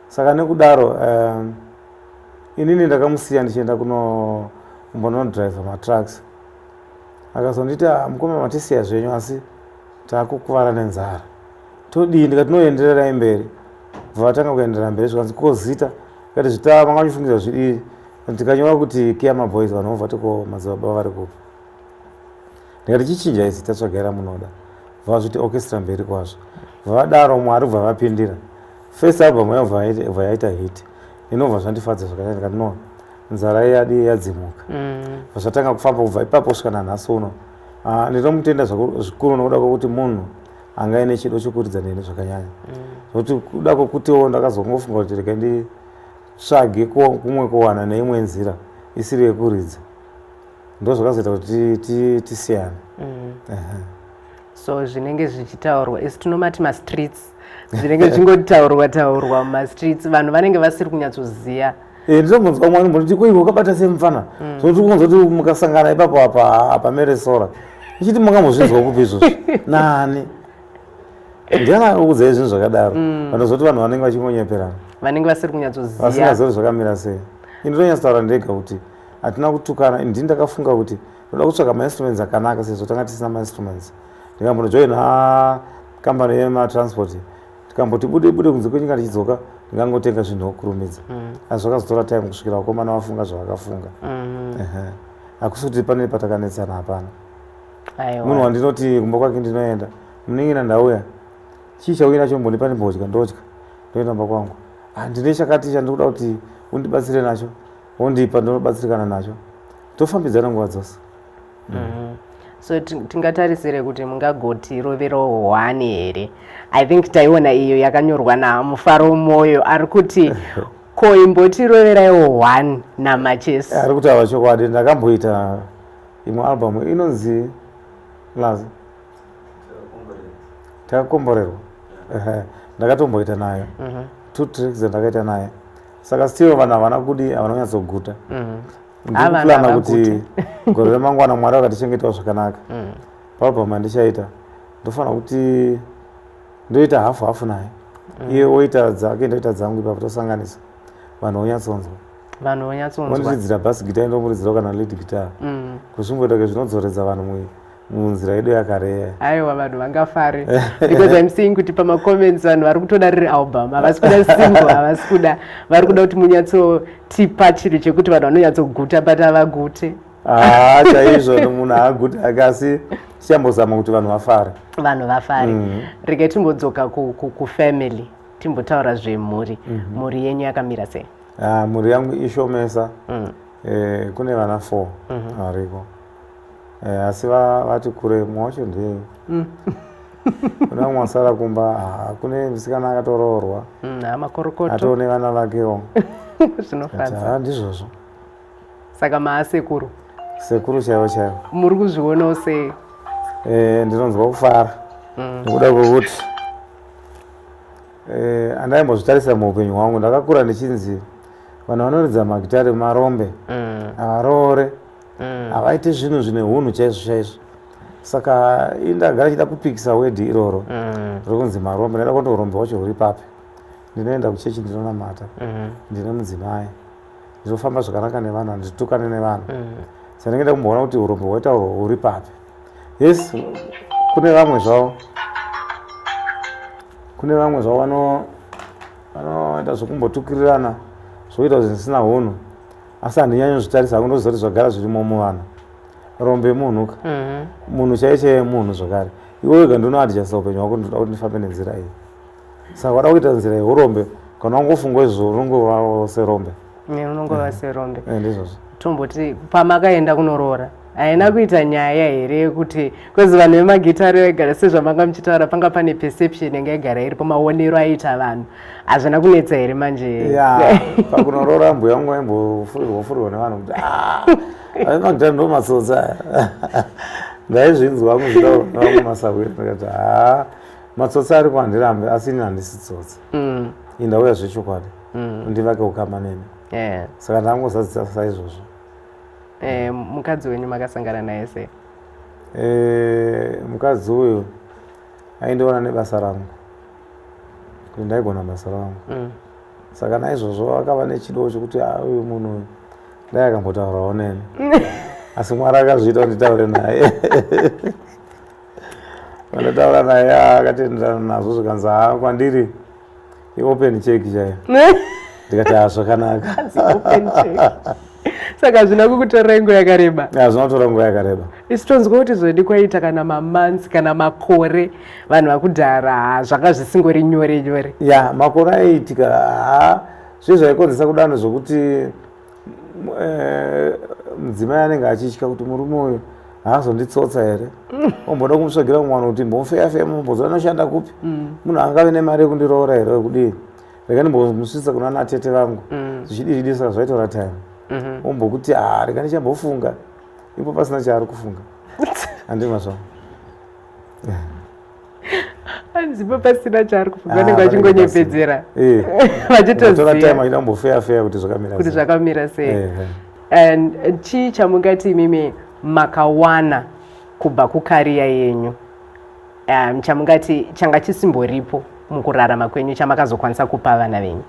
saka nekudaro um, inini ndakamusiya ndichienda kunombonodriver matrucks akazonditi ah, mukoma matisiya zvenyu asi taakukuvara nenzara todii ndikatinoendererai mberi bva vatanga kuenderera mberi zvikanzi kozita Kati zvita manga muchifungidzira zvidii ndikanyora kuti kiya maboys vanhu vobva tiko madzibaba vari kupi ndikati chichinjai zita tsvagaira munoda vazviti orchestra mberi kwazvo vavadaro mwari ubva vapindira first album yayo bva yaita hit inobva zvandifadza zvakata ndikati no nzara yadi yadzimuka mm. vazvatanga kufamba kubva ipapo svika nanhasi uno ah, ndinomutenda zvikuru nokuda kwekuti munhu anga ine chido chokuridza neni zvakanyanya zvokuti mm. kuda kwokutiwo ndakazongofunga kuti rega nditsvage kumwe kuwana neimwe nzira isiri yekuridza ndo zvakazoita kuti tisiyane mm. so zvinenge zvichitaurwa isu tinomati mastreets zvinenge zvichingotaurwa taurwa mumastreets vanhu vanenge vasiri kunyatsoziva Eh, ndinombonzwa umwe anomboti ko iwe wakabata sei mufana mm. so tiri kunzwa kuti mukasangana ipapo apa hapamere sora ichiti makambozvinzwa kupi izvozvo nani ndiani akukudzai zvinhu zvakadaro mm. vanozoti vanhu vanenge vachingonyeperana vanenge vasiri kunyatsoziva vasingazori zvakamira sei ini ndonyatsotaura ndega kuti hatina kutukana ndi ndakafunga kuti ndoda kutsvaga mainstruments akanaka sezvo tanga tisina mainstruments ndikambonojoina kambani yematransport tikamboti bude bude kunze kwenyika tichidzoka ndingangotenga zvinhu wokurumidza mm. asi zvakazotora time kusvikira vakomana vafunga zvavakafunga mm-hmm. hakusi kuti pane patakanetsana hapana munhu wandinoti kumba kwake ndinoenda muningina ndauya chii chauya nacho mbondipa ndimbodya ndodya ndoenda mba kwangu ah, ndine chakati chandikuda kuti undibatsire nacho wondipa ndinobatsirikana nacho tofambidzana nguva dzose mm. so tingatarisire kuti mungagoti rovero hwani here i think taiona iyo yakanyorwa namufaro mwoyo ari kuti ko imbotiroveraiwo hwani namachesi eh, ari kutaura chokwadi ndakamboita imwe albamu inonzi lazi takakomborerwa ndakatomboita nayo mhm. two tricks dzandakaita naye saka still vanhu havana kudi havana kunyatsoguta mhm. ndikuplana kuti gore remangwana mwari vakatichengetawo zvakanaka mm. pabva mandichaita ndofanira kuti ndoita hafu hafu naye mm. iye oita dzake ndoita dzangu ipapo tosanganisa vanhu vonyatsonzwa vanhu vonyatsonzwa vondiridzira bas gita indomuridzirawo kana led guitar mm. kuzvimboita ke zvinodzoredza vanhu muviri munzira yedu yakareya aiwa vanhu vangafare because im seeing kuti pamacomments vanhu vari kutoda riri album havasi kuda single havasi kuda vari kuda kuti munyatsotipa chinhu chekuti vanhu vanonyatsoguta but havagute haa chaizvo nomunhu haaguti ake asi tichambozama kuti vanhu vafare vanhu vafare mm. rega timbodzoka kufamily timbotaura zvemhuri mhm. mhuri yenyu yakamira sei ah, mhuri yangu ishomesa mm. eh, kune vana four mhm. variko mm -hmm. Eh, asi va- vati kure mumwe wacho ndiye Mm. kune vamwe vasara kumba ah, kune musikana akatoroorwa Mm, haa makorokoto atoo nevana vakewo zvinofadza haa ndizvozvo saka maasekuru sekuru chaivo chaivo muri kuzvionawo sei Eh, ndinonzwa kufara Mm. nekuda kwekuti eh, andaimbozvitarisa muupenyu hwangu ndakakura ndichinzi vanhu vanoridza magitare marombe Mm. havaroore mm. havaite zvinhu zvine hunhu chaizvo chaizvo saka indagara chida kupikisa wedhi iroro mm. riri kunzi marombe ndaida kuona urombe wacho huri papi ndinoenda kuchechi ndinonamata mm. ndine mudzimai ndinofamba zvakanaka nevanhu handitukane nevanhu mm. saka ndinge nda kumboona kuti urombe hwaita urwo huri papi yes kune vamwe zvavo kune vamwe zvavo vanoita zvekumbotukirirana zvoita zvisina hunhu asi handinyanyo zvitarisa hangu ndoziva kuti zvagara zvirimo muvana rombe munhu ka mhm. munhu chaiye chaiye munhu zvakare iwe wega ndinoadjasta upenyu hwako ndinoda kuti ndifambe nenzira iyi saka wada kuita nzira yeurombe kana wangofunga izvo unongova serombe unongova serombe eh, ndizvozvo tomboti pamakaenda kunoroora haina kuita nyaya here yekuti kwezi vanhu vemagitari vaigara sezvamanga muchitaura panga pane perception yanga igara iripo maonero aiita vanhu hazvina kunetsa here manje ya pakunoroora mbuya yangu vaimbofurirwa furirwa nevanhu kuti ah, aimagitari ndo matsotsi aya ndaizvinzwa vamwe zvitaura nevamwe masahwiri ndikati haa ah, matsotsi ari kwandirambe asi ini handisi tsotsi mm. indauya zvechokwadi mm. ndivake ukama neni saka ndangozadzisa saizvozvo Eh, mukadzi wenyu makasangana naye sei? Eh, mukadzi uyu aindiona nebasa rangu kuti ndaigona basa rangu mm. saka naizvozvo akava nechido chekuti ah, uyu munhu uyu dai akambotaurawo neni asi mwari akazviita kuti nditaure naye vandotaura naye ah, akatenderana nazvo zvikanzi haa kwandiri iopen check chaiyo ndikati ha ah, zvakanaka saka hazvina kukutora nguva yakareba hazvina kutora nguva yakareba isi tonzwa kuti zvodi kwaita kana mamansi kana makore vanhu vakudhara zvanga zvisingori nyore nyore ya makore aiitika ha zve zvaikonzesa kudano zvokuti eh, mudzimai anenge achitya kuti murume uyu haazonditsotsa here omboda kumutsvagira mumwana kuti mbomufeyafeya mumbozo anoshanda kupi mm. munhu angave nemari yekundiroora here wekudii rega ndimbomusvitsa kuna natete vangu mm. zvichidiridisa zvaitora time mm-hmm. ombokuti ha ah, rega ndichambofunga ipo pasina chaari kufunga handimazvaa anzipa pasina chaari kufunga ah, vanenge vachingonyepedzera eh. vachitoziyambofeyafeya kuti zvakamirati zvakamira sei eh, eh. and chii chamungati imimi makawana kubva kukariya yenyu um, chamungati changa chisimboripo mukurarama kwenyu chamakazokwanisa kupa vana venyu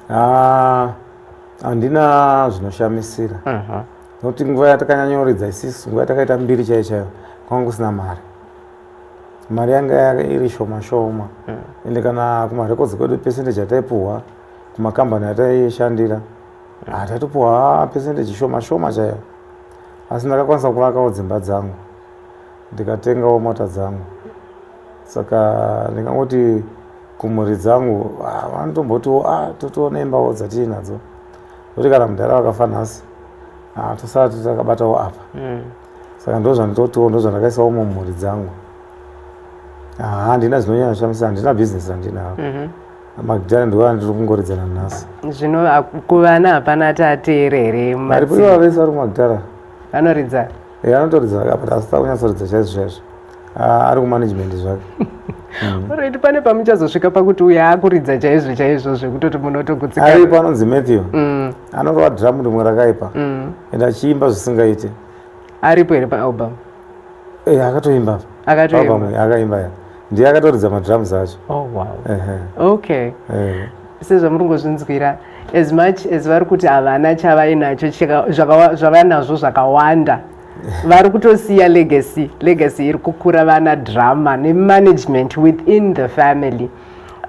ah, handina zvinoshamisira mhm. nokuti nguva yatakanyanyoridza isisu nguva yatakaita mbiri chaiyo chaiyo kwanga kusina mari mari yanga yake iri shoma shoma mm. ende kana kumarecords kwedu percentage ataipuhwa kumakambani ataishandira mm. ataitopuhwa percentage shoma shoma chaiyo asi ndakakwanisa kuvakawo dzimba dzangu ndikatengawo mota dzangu saka ndingangoti kumhuri dzangu ah, vanotombotiwo a ah, totoona imbawo dzatiinadzo kuti kana mudhara vakafa nhasi ah, tosati takabatawo apa mm. saka ndozvanditotiwo ndozvandakaisawo mumhuri dzangu handina zvinonyanya shamisa handina bhizinesi randinaro mhm. magidhara ndiwo andiri kungoridzana nhasi zvino kuvana hapana ati ateere here maripo ivo vese vari kumagidhara vanoridza e anotoridza apa asi takunyatsoridza chaizvo chaizvo Ah, ari kumanagement zvake mm. right pane pamuchazosvika pakuti uyo akuridza chaizvo chaizvo zvekutoti munotogutsikana ari panonzi matthew mm. anorova dramu rimwe rakaipa mm. and achiimba zvisingaite aripo here paalbum eh, akatoimba akatoimba eh, akaimba ya ndiye akatoridza madrums acho oh, wow. okay eh. sezvamuri kungozvinzwira as much as vari kuti havana chavainacho zvavainazvo zvakawanda vari kutosiya legacy legacy iri kukura vana drama nemanagement within the family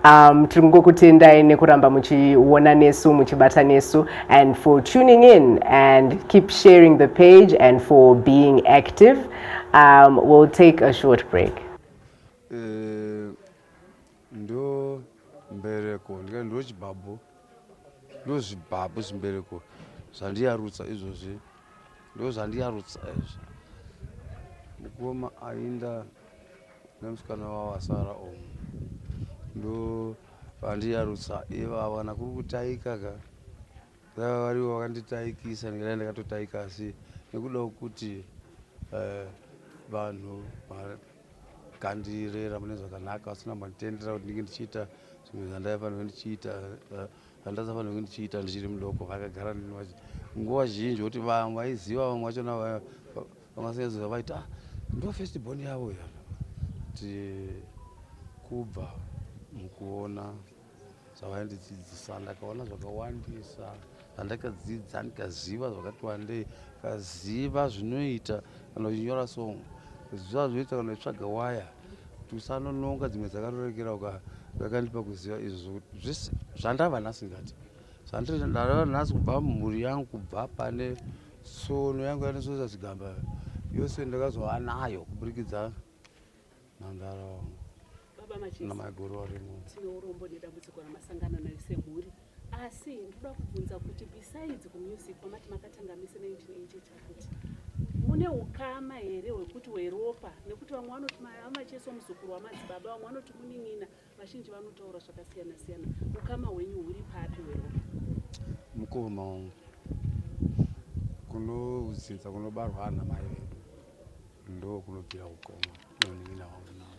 um, tiri kungokutendai nekuramba muchiona nesu muchibata nesu and for tuning in and keep sharing the page and for being active um, we'll take a short break uh, Ndo mbereko ndikati ndochibhabhu ndozvibhabhu zvimbereko zvandiyarutsa izvozvi ndozvandiyarutsa izvi mukoma ainda nemusikana wavo asara omu ndo vandiyarutsa ivava kana kuri kutaika ka vaiva varivo vakanditaikisa ndingadai ndakatotaika asi nekuda kwekuti eh, vanhu uh, kandirera mune zvakanaka vasina mbanditendera kuti ndinge ndichiita zvimwe zvandaifanirwe ndichiita eh, zvandasafanirwe ndichiita ndichiri mudoko vakagara nini vachi nguva zhinji kuti vamwe vaiziva vamwe vachona vangasanyatsoziva vaiti ah ndo first born yavo ya ti kubva mukuona zvavandidzidzisa ndakaona zvakawandisa zvandakadzidza ndikaziva zvakati wandei kaziva zvinoita kana uchinyora song ziva zvinoita kana uchitsvaga waya kuti usanononga dzimwe dzakarorekera uka zvakandipa kuziva izvo zvokuti zvese zvandava nhasi ndati zvandava nhasi kubva mhuri yangu kubva pane sono yangu yanesosa chigamba yose ndakazova nayo kuburikidza Nandara wangu. Baba Machisi. Na maiguru varimo. Tine urombo nedambudziko ramasangana nayo semhuri. Asi ndoda kubvunza kuti besides kumusic kwamati makatanga mese 1980 chakuti mune ukama here hwekuti weropa nekuti vamwe vanoti mama Machisi muzukuru wamadzibaba vamwe vanoti munin'ina Vazhinji vanotaura zvakasiyana siyana. Ukama hwenyu huri papi hweropa? Mukoma wangu kunodzinza kunobarwa ana mai vedu ndo kunobvira ukoma nonin'ina wangu nawo.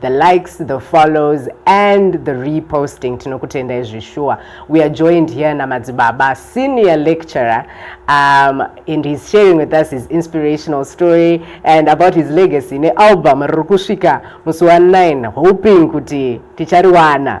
the likes the follows and the reposting tinokutendai zveshuwa we are joined here namadzibaba senior lecturer um, and he's sharing with us his inspirational story and about his legacy nealbum riri kusvika musi wa 9 hoping kuti tichariwana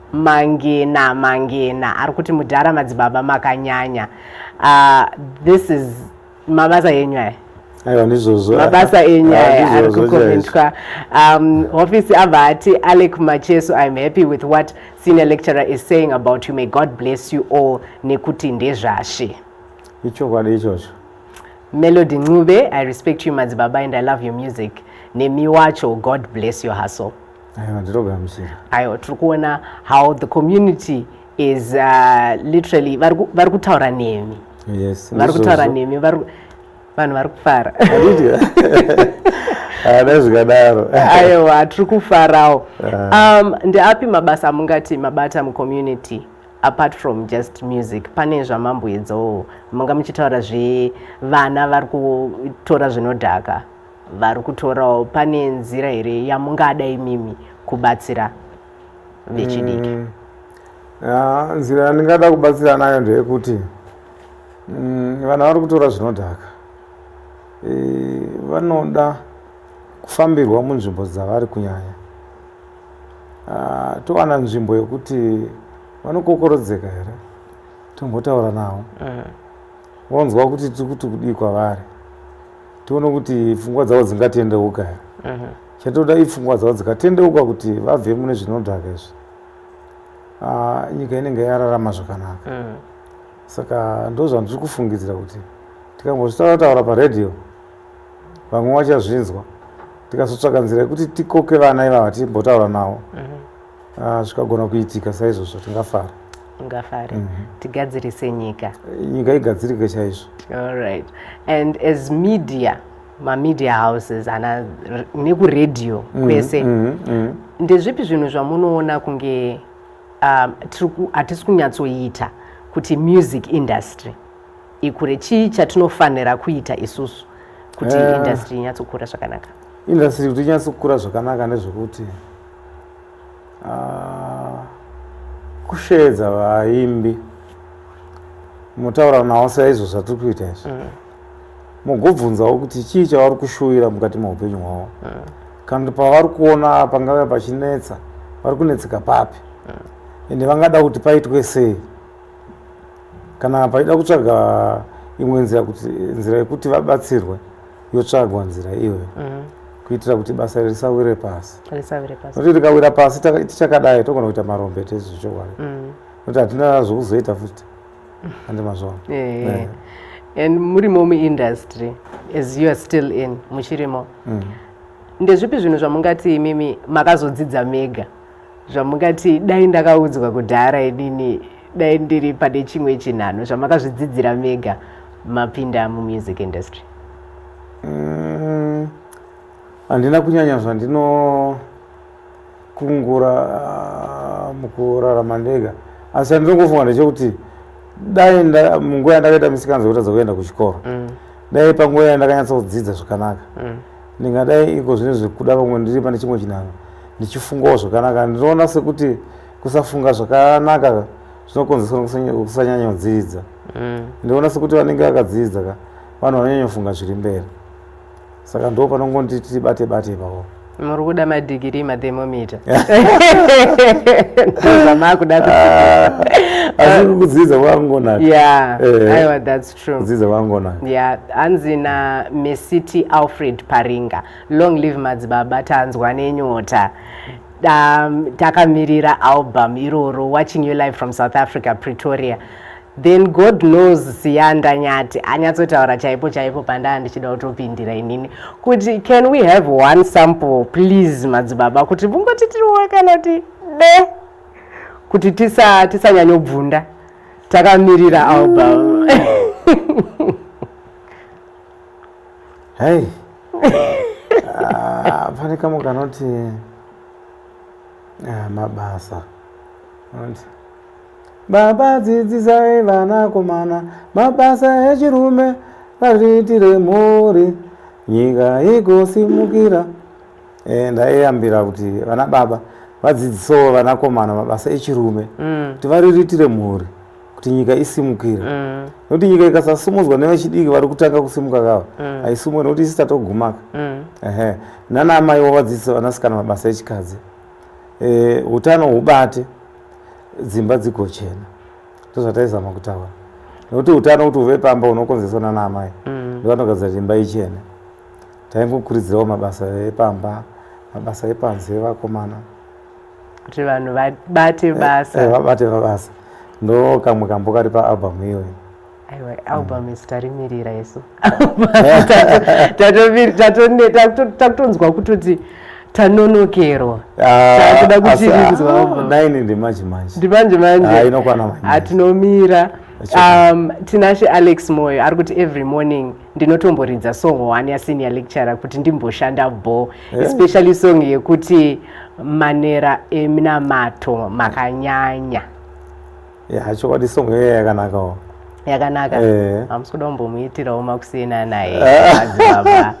mangena mangena ari kuti mudhara madzibaba makanyanya uh, this is mabasa enyu aya aiwa ndizvozvo mabasa enyu aya ari kukomentwa um, hofisi abva ati alec macheso iam happy with what senior lecturer is saying about you may god bless you all nekuti ndezvashe ichokwadi ichocho melody ncube i respect you madzibaba and i love your music nemi wacho god bless your hustle aiwa ndinogamuchira aiwa tiri kuona how the community is uh, literally vari kutaura nemi yes vari kutaura nemi vanhu vari kufara ada zvikadaro aiwa tiri kufarawo ah. um, ndeapi mabasa amungati mabata mucommunity apart from just music pane zvamamboedzawo manga muchitaura zvevana vari kutora zvinodhaka vari kutorawo pane nzira here yamungada imimi kubatsira vechidiki mm. ya nzira yandingada kubatsira nayo ndeyekuti mm, vana vari kutora zvinodhaka e, vanoda kufambirwa munzvimbo dzavari kunyanya ah, towana nzvimbo yekuti vanokokorodzeka here tombotaura navo mm. vonzwa kuti tiri kuti kudii kwavari tione kuti pfungwa dzavo dzingatendeuka here mhm. chatoda ipfungwa dzavo dzikatendeuka kuti vabve mune zvinodhaka izvi ah, nyika inenge yararama zvakanaka mhm. saka ndo zvandiri kufungidzira kuti tikambozvitaura taura paradio vamwe vachazvinzwa tikazotsvaka nzira yekuti tikoke vana ivava timbotaura navo mhm. Ah, zvikagona kuitika saizvozvo tingafara tingafare mm -hmm. tigadzirise nyika nyika igadzirike chaizvo allright and as media mamedia houses ana nekuradio mhm, kwese mm -hmm. mm -hmm. ndezvipi zvinhu zvamunoona kunge um, hatisi kunyatsoita kuti music industry ikure chii chatinofanira kuita isusu kuti uh, industry inyatsokura zvakanaka industry kuti inyatsokura zvakanaka ndezvekuti Ah, kusheedza vaimbi motaura nawo saizvo zvatiri kuita izvi mm. mugobvunzawo kuti chii chavari kushuvira mukati meupenyu hwavo mm. kana kuti pavari kuona pangave pachinetsa vari kunetseka papi mm. ende vangada kuti paitwe sei kana pachida kutsvaga imwe nzira yekuti vabatsirwe yotsvagwa nzira iyoyo mm. kuitira kuti basa iri risawire pasi nokuti rikawira pasi tichakadai togona kuita marombe tezvo chokwadi mm. nokuti hatina zvokuzoita futi ande mazvona eh. and murimo muindustry as you are still in muchirimo mm. ndezvipi zvinhu zvamungati imimi makazodzidza mega zvamungati dai ndakaudzwa kudhara inini dai ndiri pane chimwe chinhano zvamakazvidzidzira mega mapinda mumusic industry mm, handina mm, kunyanya zvandinokungura ah, mukurarama ndega asi andinongofunga ndechekuti dai munguva yandakaita misikanzo yekutadza kuenda kuchikoro mm. dai panguva yandakanyatsa kudzidza zvakanaka mm. Ndingadai iko zvine zvekuda vamwe ndiri pane chimwe chinhanho ndichifungawo zvakanaka. Ndinoona sekuti kusafunga zvakanaka zvinokonzeswa nekusanyanyonziidza. Mm. Ndinoona sekuti vanenge vakadziidza ka vanhu vanonyanyofunga zviri mberi saka ndo panongonditi tibate bate ipapo muri kuda madhigirii mathemomita ndozvamakuda ah, asi kukudzidza kwakungonaka aiwa thats Dzidzo vangona. Yeah, hanzi na Mesiti Alfred Paringa. Long live madzibaba tanzwa nenyota. Um, takamirira album iroro watching you live from South Africa Pretoria. Then God knows Siyanda Nyati anyatsotaura chaipo chaipo pandaa ndichida kutopindira inini kuti can we have one sample please madzibaba kuti vungoti tiriwo kana kuti de kuti tisanyanyobvunda tisa takamirira album hey ah, pane kamwe kanoti ah, mabasa anoti baba dzidzisai vanakomana mabasa echirume vazviitire mhuri nyika igosimukira Eh, ndaiyambira kuti vana baba vadzidzisewo vanakomana mabasa echirume mm. kuti variritire mhuri kuti nyika isimukire mm. nokuti mm. nyika ikasasumudzwa nevechidiki vari kutanga kusimuka kava mm. haisumuke nokuti isi tatogumaka mm. ehe nana amai wavadzidzise vanasikana mabasa echikadzi e, utano hubate dzimba dzigochena ndozvataizama kutaura nokuti utano kuti uve pamba unokonzeswa nana amai mm. ndivanogadzira kuti imba ichene taingokurudzirawo mabasa epamba mabasa epanze evakomana kuti vanhu vabate eh, basa eh, vabate mabasa ndo kamwe kambo kari paalbum iyoyo aiwa album isu tarimirira isu takutonzwa kutoti tanonokerwa ah, takuda kutirinzwanaini ah, ndimanje manje ndimanje manjeatinomira ah, um, tinashe alex moyo ari kuti every morning ndinotomboridza song one yasenior lecturer kuti ndimboshanda bho eh. especially song yekuti manera eminamato makanyanya ya chokwadi song iyoyo yakanakawo yakanaka hamusi eh. kuda kumbomuitirawo makusiyana naye ah.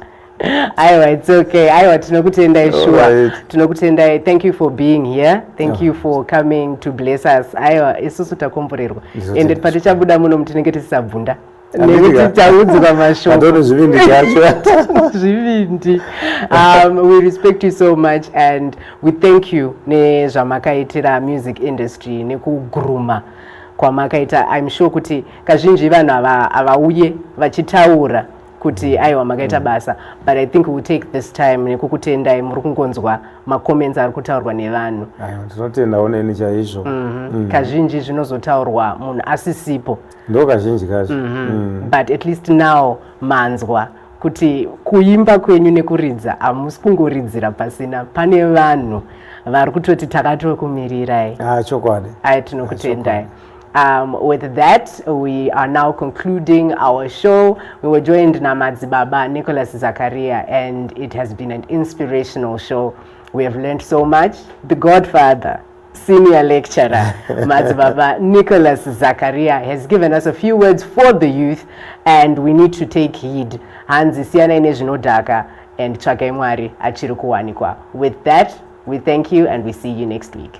aiwa its okay aiwa tinokutendai shuwa tinokutendai thank you for being here thank you for coming to bless us aiwa isusu takomborerwa ende patichabuda muno mutinenge tisisabvunda nekuti taudzwa mashoko zvivindi zvacho zvivindi um, we respect you so much and we thank you nezvamakaitira music industry nekuguruma kwamakaita im sure kuti kazhinji vanhu havauye vachitaura kuti aiwa makaita mm. basa but i think we'll take this time nekukutendai muri kungonzwa macomments ari kutaurwa nevanhu tinotendawo neni chaizvo mhm. mm. kazhinji zvinozotaurwa munhu asisipo ndo kazhinji kacho mm -hmm. mm. but at least now manzwa kuti kuimba kwenyu nekuridza hamusi kungoridzira pasina pane vanhu vari kutoti takatokumirirai ah, chokwadi ayi tinokutendai ah, Um, with that, we are now concluding our show. We were joined Namadzi Baba, Nicholas Zakaria, and it has been an inspirational show. We have learned so much. The Godfather. Senior lecturer, Madzibaba Nicholas Zakaria has given us a few words for the youth and we need to take heed. Hanzi siyanai nezvinodhaka and tsvakai Mwari achiri kuwanikwa. With that, we thank you and we see you next week.